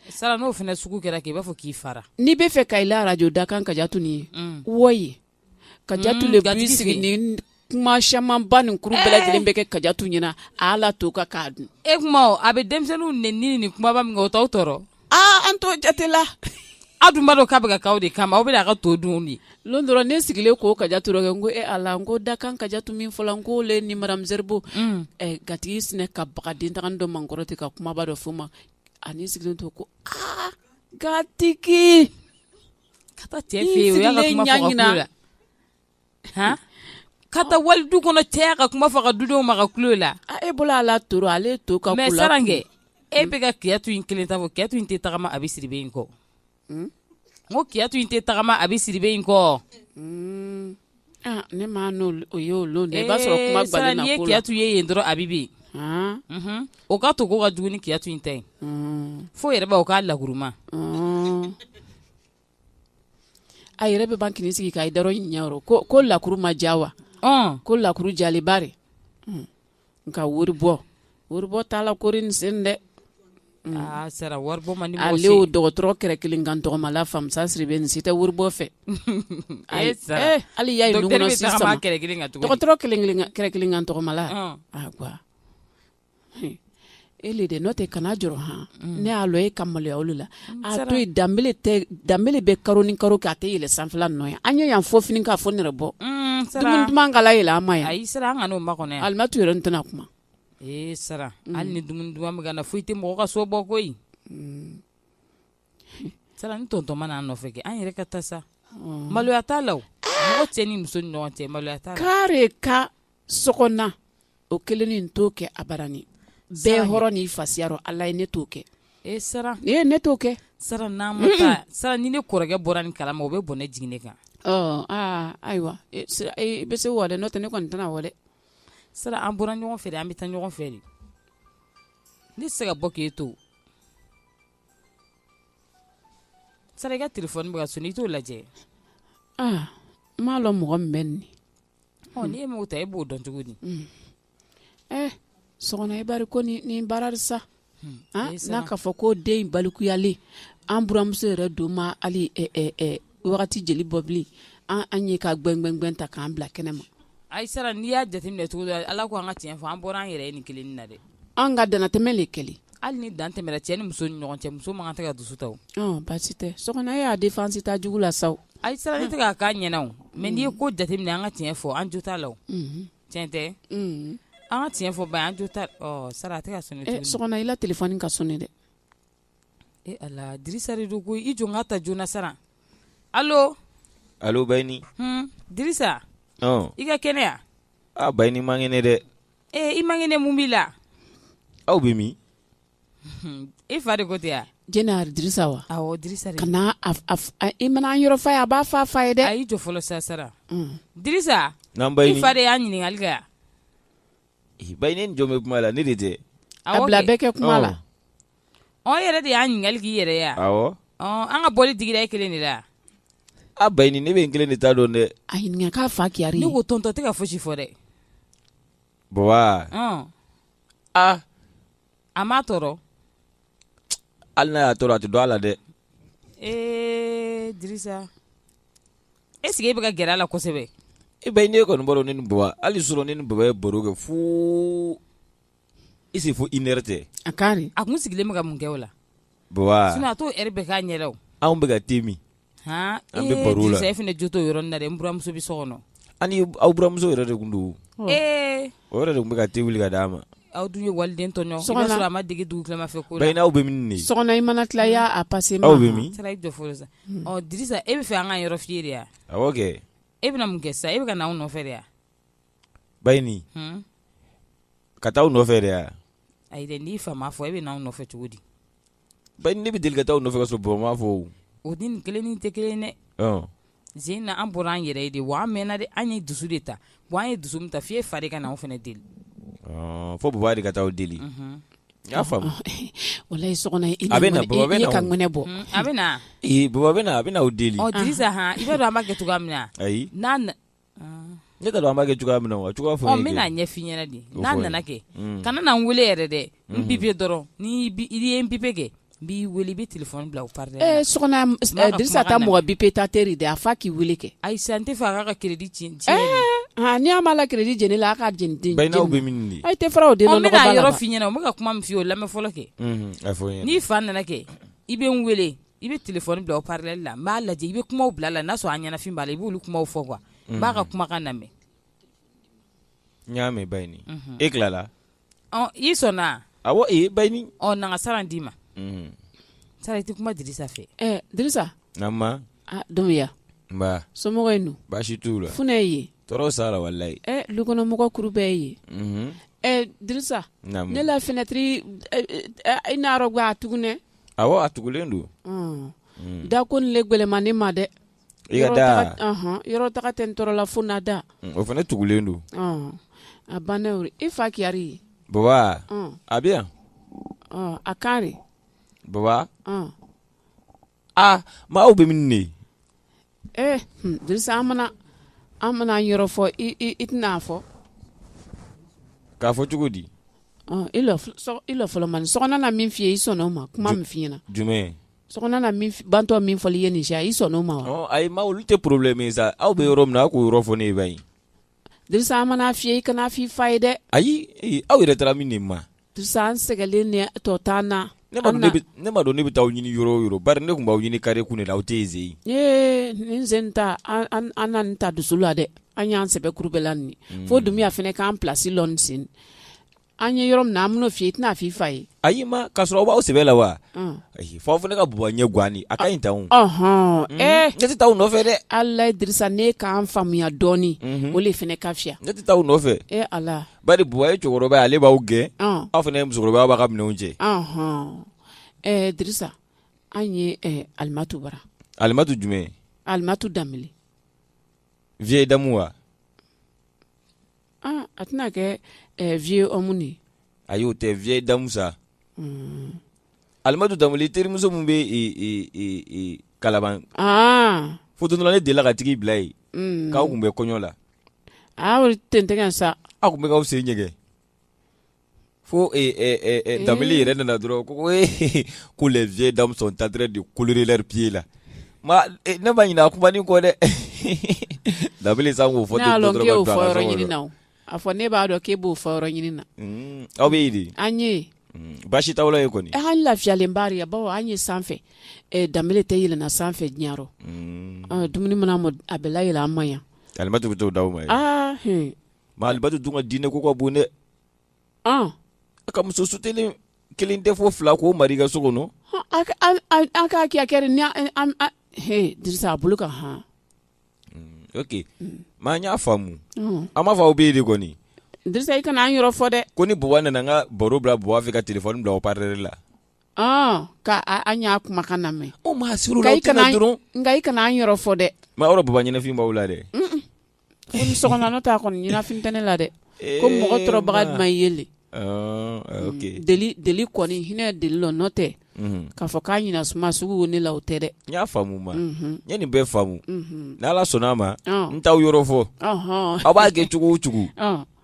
Sara n'o fana sugu kɛra kɛ i b'a fɔ k'i fara n'i bɛ fɛ ka i la arajo da kan Kajatu nin ye wɔyi Kajatu le b'i sigi ni kuma camanba nin kuru bɛɛ lajɛlen bɛ kɛ Kajatu ɲɛna a la to ka k'a dun tuma a bɛ denmisɛnninw neni ni kumaba min kɛ o t'aw tɔɔrɔ aaa an t'o jate la aw dun b'a dɔn k'a bɛ kɛ aw de kama aw bɛ a ka to dun de dɔn dɔrɔn ne sigilen ko Kajatu rɔ kɛ n ko e ala n ko da kan Kajatu min fɔla n ko le ni Madame Zerbo gatigi sinna ka baga dentan dɔ ma n kɔrɔ ten ka kumaba dɔ f'o ma a n'i sigilen to ko aa gatigi ka taa cɛ fɛ yen o y'a ka kuma fɔ ka kulo la han ka taa wali du kɔnɔ cɛ y'a ka kuma f'a ka dudenw ma ka kulo la a e bolo ala toro ale to ka mais saran kɛ e bɛ ka Kiyatu in kelen ta fɔ Kiyatu in tɛ tagama a bɛ Sidibe in kɔ n ko kiyatu in tɛ tagama a bɛ Sidibe in kɔ ne ma o ye o lon dɛ i b'a sɔrɔ kuma gɛlɛn na ko la n'i ye kiyatu ye yen dɔrɔn a bɛ bɛ yen o ka to ko ka jugu ni kiyatu in ta ye fo yɛrɛ b'a o k'a lakuru ma a yɛrɛ bɛ ban kini sigi k'a da rɔ ɲɛyɔrɔ ko lakuru ma ja wa ko lakuru jali bari nka wari bɔ wari bɔ t'a la kori nin sen dɛ aa sara wari bɔ man di mɔgɔ si ale o dɔgɔtɔrɔ kɛrɛ kelen kan tɔgɔma la Famisa Sidibe nin si tɛ wari bɔ fɛ Ayi, sara. eh, hali y'a ye Docteur dugukɔnɔ bɛ si tagama sama kɛrɛ kelen kan tuguni. dɔgɔtɔrɔ kelen kelen kan- kɛrɛ kelen kan tɔgɔma la Ɔn. a gwa e le de n'o tɛ kana jɔrɔ han mm. ne y'a lɔn e ka maloya olu la mm, a to yen danbele tɛ danbele bɛ karo ni karo kɛ a tɛ yɛlɛ sanfɛla nɔ ye an ye yan fɔ fini k'a fɔ nɛrɛ bɔ mm, dumuni duman kala yɛlɛ an ma yan ayi sara an kan'o makɔnɔ yan alimatu yɛrɛ n tɛna kuma ee sara hali ni dumuni duman bɛ ka na foyi tɛ mɔgɔ ka so bɔ koyi sara ni tonton ma n'an nɔfɛ kɛ an yɛrɛ ka taa sa maloya t'a la o mɔgɔ cɛ ni muso ni ɲɔgɔn cɛ maloya t'a la k'ale ka sokɔnɔ o kelen ne t'o kɛ abadan bɛɛ hɔrɔn n'i fasiya rɔ ala ye ne t'o kɛ e e ne t'o kɛ sara sara ni ne kɔrɔkɛ bɔra ni kalama o bɛ bɔn ne jigin ne kan aaa ayiwa e, e, bɛ se wa n'o tɛ ne kɔni tɛna wa sara an bɔra ɲɔgɔn fɛ an bɛ taa ɲɔgɔn fɛ de ne tɛ se ka bɔ k'e to sara i ka telefɔni bɛ ka sɔni i t'o lajɛ aa n m'a dɔn mɔgɔ min bɛ nin N' ye mɔgɔ ta e b'o dɔn cogo di ɛ Sɔgɔna i bari ko ni baara sa n'a ka fɔ ko den balikuyalen an buramuso yɛrɛ don ma hali wagati jeli bɔ bilen an ye ka gbɛngbɛngbɛn ta k'an bila kɛnɛ ma ayi Sara n'i y'a jateminɛ cogo dɔ la ko an ka tiɲɛ fɔ an bɔra an yɛrɛ ye nin kelen na dɛ an ka dantɛmɛ de kɛlen hali ni dan tɛmɛra cɛ ni muso ni ɲɔgɔn cɛ muso man kan tɛ ka dusu ta o. ɔn baasi tɛ Sɔgɔna e y'a défense ta jugu la sa o. ayi Sara ne tɛ k'a k'a ɲɛna o mais n'i ye ko jateminɛ an ka tiɲɛ fɔ an jo t'a la o. Mhm. tiɲɛ tɛ. Mhm. an ka tiɲɛ fɔ ba an jo t'a ɔ sara a tɛ ka sonné. ɛ sɔgɔna i la telefɔni ka sonné dɛ. Ee Ala Dirisa don ko i jɔ n k'a ta joona sara alo Bayini Dirisa i ka kɛnɛ ya aa Bayini man kɛnɛ dɛ ee i man kɛnɛ mun b'i la aw bɛ min e fa de ko tɛ ya Zeyina Dirisa wa Dirisa kana i mana an yɔrɔ f'a ye a b'a f'a fa ye dɛ a y'i jɔ fɔlɔ sa Sara Dirisa i fa de y'an ɲininkali kɛ ya Bayini ni jɔn bɛ kuma la ne de tɛ a bila bɛɛ kɛ kuma la ɔ yɛrɛ de y'an ɲininkali k'i yɛrɛ ya an ka bɔli digira e kelen de la a Bayini ne bɛ n kelen de ta dɔn dɛ a ɲininka k'a fa kɛra ne ko tonton tɛ ka fosi fɔ dɛ baba aa a m'a tɔɔrɔ hali n'a y'a tɔɔrɔ a tɛ dɔn a la dɛ ee dirisa est-ce que e bɛ ka gɛrɛ a la kosɛbɛ e Bayini e kɔni b'o dɔn ne ni baba hali surɔ ne ni baba ye baro kɛ fo I se fo une heure tɛ a ka a kun sigilen bɛ ka mun kɛ o la a t'o heure bɛɛ k'a ɲɛ anw bɛ ka te min an bɛ baro la e fana jo t'o yɔrɔ na n buramuso bɛ so kɔnɔ ani aw buramuso yɛrɛ de tun don o yɛrɛ de tun bɛ ka te wuli k'a di a ma aw dun ye waliden tɔɲɔ a ma dege dugutilama fɛ ko la Bayini aw bɛ min Sɔgɔna i mana tila y'a passé aw bɛ min i jɔ fɔlɔ sa ɔ Dirisa e b'a fɛ an ka yɔrɔ f'i ye de ya e bɛna mun kɛ sa e bɛ ka na anw nɔfɛ de ya Bayini n ka taa aw nɔfɛ de ya ayi dɛ n'i fa m'a fɔ e bɛ na anw nɔfɛ cogo di Bayini ne bɛ deli ka taa aw nɔfɛ ka sɔrɔ baba m'a fɔ o ni nin kelen ni tɛ kelen dɛ Zeyina an bɔra an yɛrɛ ye de wa an mɛnna de an ye dusu de ta wa an ye dusu min ta f'e fa ka na anw fana deli fo baba de ka taa aw deli y'a faamu walayi Sɔgɔna a bɛ bɔ a bɛ na baba bɛ na a bɛ na aw deli Dirisa i b'a dɔn an b'a kɛ cogoya min na ayi Ne t'a dɔn an b'a kɛ cogoya min na wa cogoya fɔ n bɛna a ɲɛf'i ɲɛna de n'a nana kɛ kana n weele yɛrɛ dɛ n bipe dɔrɔn ni ye n bipe kɛ n b'i weele i bɛ telefɔni bila haut-parleur la Dirisa ta mɔgɔ bipe ta teri de a f'a k'i weele kɛ ayi n t'a fɛ a k'a ka crédit tiɲɛ ni an b'a la crédit jeni la a k'a jeni bɛ tɛ fara o de n bɛ yɔrɔ f'i ɲɛna o bɛ ka kuma min f'i ye o lamɛn fɔlɔ kɛ n'i fa nana kɛ i bɛ n weele i bɛ telefɔni bila haut-parleur la n b'a lajɛ i bɛ kuma bila la n'a sɔrɔ a ɲɛnafin b'a la i b'olu kuma fɔ quoi n b'a ka kumakan lamɛn n y'a mɛn bayini e tilala i sɔnna awɔ ee bayini na n ka sara d'i ma sara i tɛ kuma dirisa fɛ dirisa dunbiya somɔgɔ in baasi t'u la funɛ ye tɔɔrɔ s'a la walayi dukɔnɔmɔgɔ kuru bɛɛ ye dirisa ne la finɛtiri i n'a ga tugunɛ awɔ a tugulen don mm. da ko nin le gwɛlɛnma ne ma dɛ i ka da yɔrɔ taga tɛ n tɔɔrɔla fo na da mm, o fana tugulen don a banna i fa keyari ye baba mm. a bɛ yan a kan de baba aa maa aw bɛ min ne ee hmm, dirisa an mana an mana yɔrɔ fɔ i i i tɛna fɔ k'a fɔ cogo di ɔ i lɔ sɔ- i lɔ fɔlɔ mani sɔgɔna na min f'i ye i sɔnna o ma kuma min f'i ɲɛna jumɛn sɔgɔna na min f- bantɔ min fɔli i ye nin siya i sɔnna o ma wa ɔ ayi ma olu tɛ problème ye sa aw bɛ yɔrɔ min na aw k'o yɔrɔ fɔ ne ye ba in dirisa an mana f'i ye i kana f'i fa ye dɛ ayi ee, aw yɛrɛ taara min de ma An sɛgɛnlen ni tɔ t'an na ne ne ma dɔn ne bɛ taa aw ɲini yɔrɔ o yɔrɔ bari ne tun b'aw ɲini kare kun de la aw tɛ yen ee nin sen ta an na nin ta dusu la dɛ an y'an sɛbɛ kuru bɛɛ la nin fo dunbiya fana k'an plasi lɔ nin sen an ye yɔrɔ min na an bɛn'o f'i ye i tɛna f fɔ i fa ye ayi ma k'a sɔrɔ aw b'aw sɛbɛ la wa ayi f'aw fana ka baba ɲɛ gan a ka ɲi tan hɔn ee ne tɛ taa aw nɔfɛ dɛ ala ye dirisa ne k'an faamuya dɔɔnin o de fana ka fisa ne tɛ taa aw nɔfɛ e ala Bari baba ye cɛkɔrɔba ye ale b'aw gɛn aw fana ye musokɔrɔba aw b'a ka minɛn cɛ dirisa an ye alimatu bara alimatu jumɛn alimatu danbele vieille dame wa aa a tɛna kɛ vieux ye ayi o tɛ vieille dame sa alimatu danbele terimuso min bɛ kalaban fo don dɔ la ne delila k'a tigi bila yen k'aw tun bɛ kɔɲɔ la Tigɛ sa aw tun bɛkaw sen ɲɛ fo da yɛrɛ nana dɔrɔn ko ko lajɛ da ta de kule pee la ne ma ɲin a kuma kɔ dɛ da sa k'o fɔ a fɔ ne b'a dɔn k' b'o fɔ ɲini na aw bɛ an ye baasi t' ye kɔni an lafiyalen baara baw an ye sanfɛ da tɛ yɛlɛna sanfɛ diɲɛyɔrɔ dumuni mana a bɛɛla yɛlɛ an ma yan Alimatu bɛ to d'aw ma ye ma alimatu dun ka diinɛ ko ka bon ne a ka muso su kelen tɛ fo fila k'o mar'i ka so kɔnɔ an k'a kɛ a kɛra ni dirisa a bolo kan hɔn oke ma an y'a faamu an b'a fɔ aw bɛ yen de kɔni dirisa i kana an yɔrɔ fɔ dɛ ko ni baba nana n ka baro bila baba fɛ ka telefɔni bila haut-parleur la an y'a kumakan lamɛn o ma suru i kana dɔrɔn nka i kana an yɔrɔ fɔ dɛ ma aw yɛrɛ baba ɲɛnafin b'aw la dɛ Sɔkɔna n'o t'a kɔni ɲɛnafin tɛ ne la dɛ ko mɔgɔ tɔɔrɔbaga jumɛn ye le deli kɔni hinɛ deli la n'o tɛ k'a fɔ k'a ɲɛnasuma sugu ne la o tɛ dɛ n y'a faamu ma n ye nin bɛɛ faamu n'ala sɔnna a ma n t'aw yɔrɔ fɔ aw b'a kɛ cogo o cogo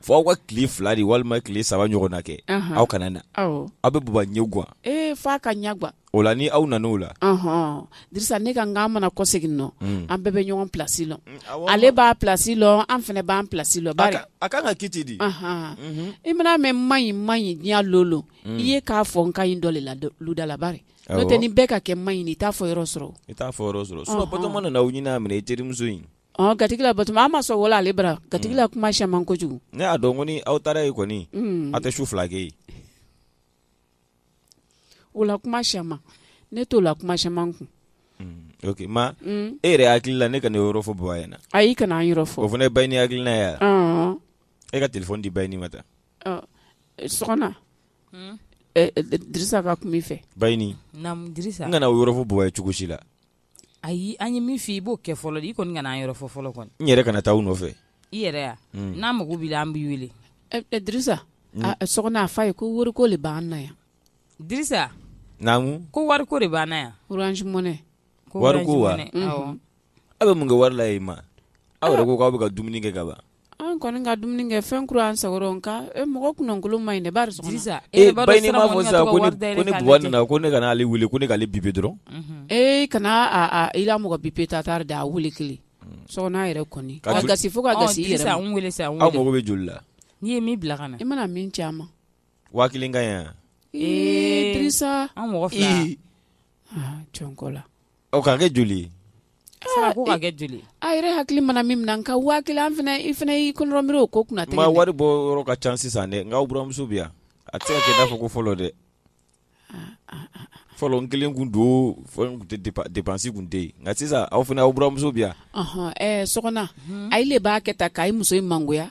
Fɔ aw ka tile fila de walima tile saba ɲɔgɔn na kɛ aw kana na aw bɛ baba ɲɛ gan f'a ka ɲɛ gan o la ni aw nana o la Dirisa ne ka an mana kɔsegin nɔ an bɛɛ bɛ ɲɔgɔn plasi lɔn ale b'a plasi lɔn an fana b'an plasi lɔn a ka ka ki di i mana mɛ ma ɲi ma ɲi diɲɛ lolo i ye k'a fɔ n ka ɲi dɔ de la lu da la bari n'o tɛ ni bɛɛ ka kɛ ma ɲi i t'a fɔ yɔrɔ sɔrɔ i t'a fɔ sɔrɔ sinon Batoma nana aw ɲini a minɛ i terimuso in Ɔ gatigila Batoma a ma sɔn wala ale bara gatigila kuma caman kojugu ne y'a dɔn ko ni aw taara yen kɔni aw tɛ su fila kɛ yen o la kuma caman ne t'o la kuma caman kun ok ma e yɛrɛ hakili la ne ka nin yɔrɔ fɔ baba ɲɛna ayi kana an yɔrɔ fɔ o fana ye Bayini hakilina ye e ka telefɔni di Bayini ma ta Sɔkɔna Dirisa ka kuma i fɛ Bayini kana o yɔrɔ fɔ baba ye cogo si la ayi an ye min fɔ i b'o kɛ fɔlɔ i kɔni kana an yɔrɔ fɔ fɔlɔ kɔni n yɛrɛ kana taa u nɔfɛ i yɛrɛ yan mm. n'an mago b'i la an b'i wele Dirisa Sɔkɔna a f'a ye ko wariko de b'an na yan Dirisa naamu ko wariko de b'an na yan Orange Money wariko wa aw bɛ mun kɛ wari la yen ma aw yɛrɛ ko k'aw bɛ ka dumuni kɛ ka ban an kɔni ka dumuni kɛ fɛn kura an sago rɔ nka e mɔgɔ kunnankolon ma ɲi baba nana ko ne kana ale wele ko ne k'ale bipe dɔrɔn e kana i la mɔgɔ bipe ta taara da a wele kelen Sɔkɔna yɛrɛ kasi fo ka mako bɛ joli la n'i ye min bila ka na i mana min caman waa ka yan ee an mɔgɔ jɔnkɔ la O ka kɛ joli ye? Sabu ko ka kɛ joli ye? A yɛrɛ hakili mana min minɛ nka 1000 an fana i fana y'i kɔnɔrɔ miiri o ko kunna tɛ. Ma wari bɔ yɔrɔ ka ca sisan dɛ nka aw buramuso bɛ yan a tɛ se ka kɛ i n'a fɔ ko fɔlɔ dɛ. Fɔlɔ n kelen kun don fɔlɔ n kun tɛ dépense dépense kun tɛ yen nka sisan aw fana aw buramuso bɛ yan. Ɔnhɔn ɛɛ Sɔkɔna, Unhun, ale de b'a kɛ tan k'a muso in mangoya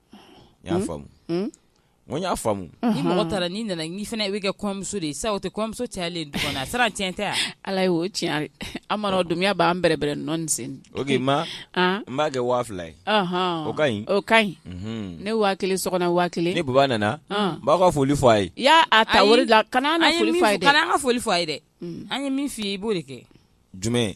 n y'a faamu n y'a faamu ni mɔgɔ taara n'i nana n'i fana bɛ kɛ kɔɲɔmuso de ye sa o tɛ kɔɲɔmuso cayalen du kɔnɔ a sera tiɲɛ tɛ yan ala ye o tiɲɛ an mana dunya b'an bɛrɛbɛrɛ nɔɔni sen ok ma n b'a kɛ waa fila ye o ka ɲi o ka ɲi ne waa kelen Sɔkɔna waa kelen ni baba nana n b'aw ka foli fɔ a ye i y'a a ta wari la kana an ka foli fɔ a ye dɛ an ye min fɔ i ye i b'o de kɛ jumɛn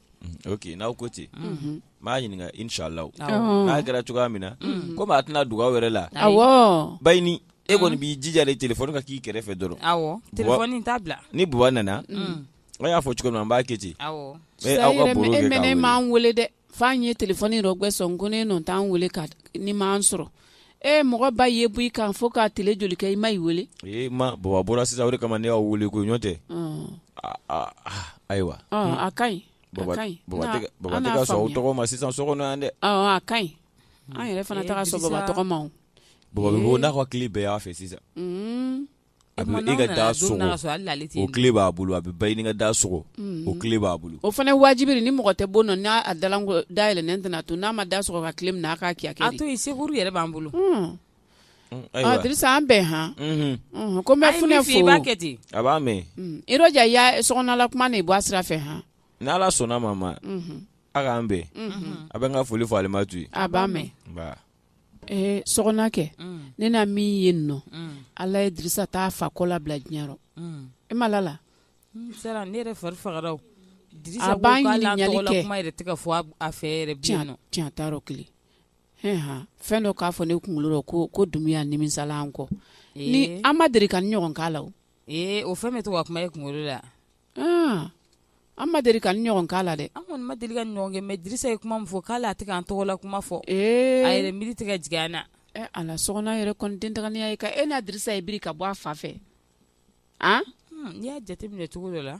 OK n'aw ko ten n b'a ɲininka inshallah n'a kɛra cogoya min na komi a tɛna dogo aw yɛrɛ la Bayini e kɔni b'i jija de téléphone ka k'i kɛrɛfɛ dɔrɔn ni buwa nana aw y'a fɔ cogo min na n b'a kɛ ten aw m'an weele dɛ f'an ye téléphone rɔgbɛ sɔn ko ne n' weele a ni m'an sɔrɔ e mɔgɔ ba ye bɔ i kan fo ka tile joli kɛ i ma i weele ee ma baba bɔra sisan o de kama ne y'aw weele ko ɲɔ tɛ ayiwa a ka ɲi baba tɛ ka sɔn aw tɔgɔ ma sisan so kɔnɔ yan dɛ a ka ɲi an yɛrɛ fana tɛ ka sɔn baba tɔgɔ ma baba bɛ bɔ n'a ka kile bɛɛ y'a fɛ sisan A bɛ e ka da sogo o kile b'a bolo a bɛ Bayini ka da sogo o kile b'a bolo o fana wajibi ni mɔgɔ tɛ bɔ na n'a dayɛlɛnen tɛna to n'a ma da sogo ka kile minɛ k'a kɛ a to yen secours yɛrɛ b'an bolo an bɛn h ko n bɛ Funɛ fo i b'a kɛ ten a b'a mɛn i so kuma nin i bɔ a sira fɛ h n' ala sɔnna ma ma aw k'an bɛn a bɛ n ka foli fɔ Alimatu ye a b'a mɛn Ɛɛ Sogona kɛ ne na min ye n nɔ ala ye Dirisa t'a fa kɔ labila diɲɛ rɔ e ma la sera ne yɛrɛ fari fagara a b'a ɲininkali kɛ kuma yɛrɛ tɛ ka fɔ a fɛ tiɲɛ t'a rɔ kelen h fɛn dɔ k'a fɔ ne kunkolo rɔ ko Dumuya nimisala an kɔ ni an ma deli ka ni ɲɔgɔn k'a la Ee o fɛn bɛ to ka kuma e kunkolo la an ma deli ka ni ɲɔgɔn k'a la dɛ an kɔni ma deli ka ɲɔgɔn kɛ mais Dirisa ye kuma min fɔ k'ale a tɛ k'an tɔgɔ la kuma fɔ a yɛrɛ miiri tɛ ka jigin an na Ala Sogona yɛrɛ kɔni den taganiya ye ka e n'a Dirisa ye biri ka bɔ a fa fɛ a n'i y'a jate minɛ cogo dɔ la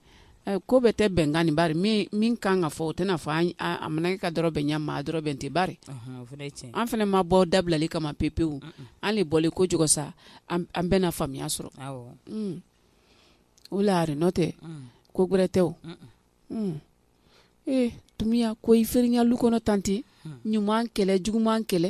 Eh, ko bɛ tɛ bɛnkan nin bari min kan ka fɔ o tɛna fɔ a mana kɛ ka dɔ rɔbɛn ɲɛ maa dɔ rɔbɛn tɛ bari an fana ma bɔ dabilali kama pepewu an le bɔlen ko cogo sa an bɛna faamuya sɔrɔ mm. o la n'o tɛ mm. ko gɛrɛ tɛ o mm. ee eh, Dumuya ko i feere i ɲa lu kɔnɔ tante ɲuman kɛ le juguman kɛ le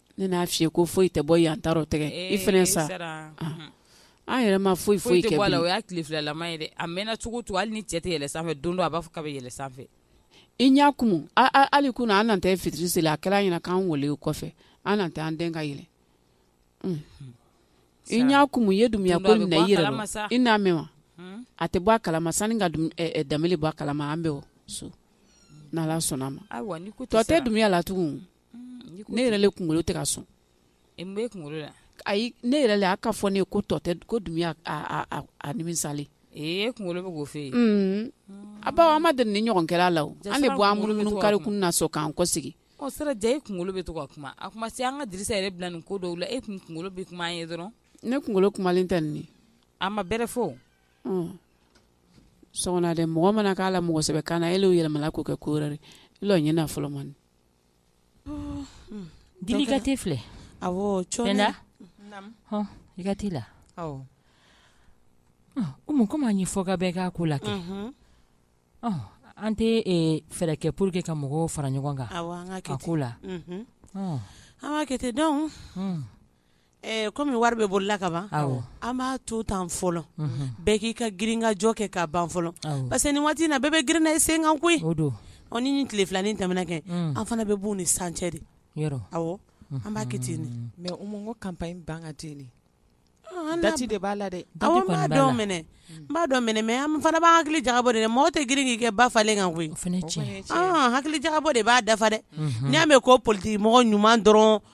Ne n'a fɔ i ye ko foyi tɛ bɔ yan taa rɔ tɛgɛ i fana sa an yɛrɛ ma foyi kɛ foyi tɛ bɔ a la o y'a tile filanan ye dɛ a mɛɛnna cogo to hali ni cɛ tɛ yɛlɛ sanfɛ don don a b'a fɔ k'a bɛ yɛlɛ sanfɛ i n y'a kun hali kunun an tɛ fitiri seli a kɛra ɲɛna k'an weele o kɔfɛ an tɛ an den ka yɛlɛ i n y'a kun ye Dumuya ko nin na i yɛrɛ dɔn i n'a mɛn wa a tɛ bɔ a kalama sani ka da bɔ a kalama an bɛ so n'Ala sɔnna a ma tɔ tɛ Dumuya la tugun ne yɛrɛ le kunkolo tɛ ka sɔn ayi ne yɛrɛ le a ka fɔ ne ye ko tɔ tɛ ko dun misali e kunkolo b'o fɛ yen a bawo an ma deli nin ɲɔgɔn kɛ la a la o an le bɔ an munumunu kari kun na sɔn k'an kɔsegi sera diya e kunkolo bɛ to ka kuma a kuma se an ka di yɛrɛ bila nin ko dɔw la e tun kunkolo bɛ kuma an ye dɔrɔn ne kunkolo kumalen tɛ nin a ma bɛrɛ fɔ sɔ dɛ mɔgɔ mana k'a la mɔgɔsɛbɛ kan na e le yɛlɛmala k'o kɛ ko wɛrɛ ɲɛna fɔlɔ man Jeli ka te filɛ a i ka te la umu komi n y'a fɔ ka bɛɛ k'a ko la kɛ an tɛ fɛɛrɛ kɛ pour que ka mɔgɔw fara ɲɔgɔn kan a ko la an k'a kɛ ten donc Kɔmi wari bɛ bolo la ka ban an b'a to tan fɔlɔ bɛɛ k'i ka girinkajɔ kɛ ka ban fɔlɔ parce que nin waati in na bɛɛ bɛ girinna i sen kan koyi ni nin tile filanin tɛmɛna kɛ an fana bɛ bon ni san cɛ de an b'a kɛ mais ko campagne ban ka dati de b'a la dɛ n b'a dɔn mɛnɛ n b'a dɔn mɛnɛ mais an fana b'an hakili jagabɔ de mɔgɔ tɛ girin k'i kɛ ba falen kan koyi hakili jagabɔ de b'a dafa dɛ n'i y'a mɛn ko politigi mɔgɔ ɲuman dɔrɔn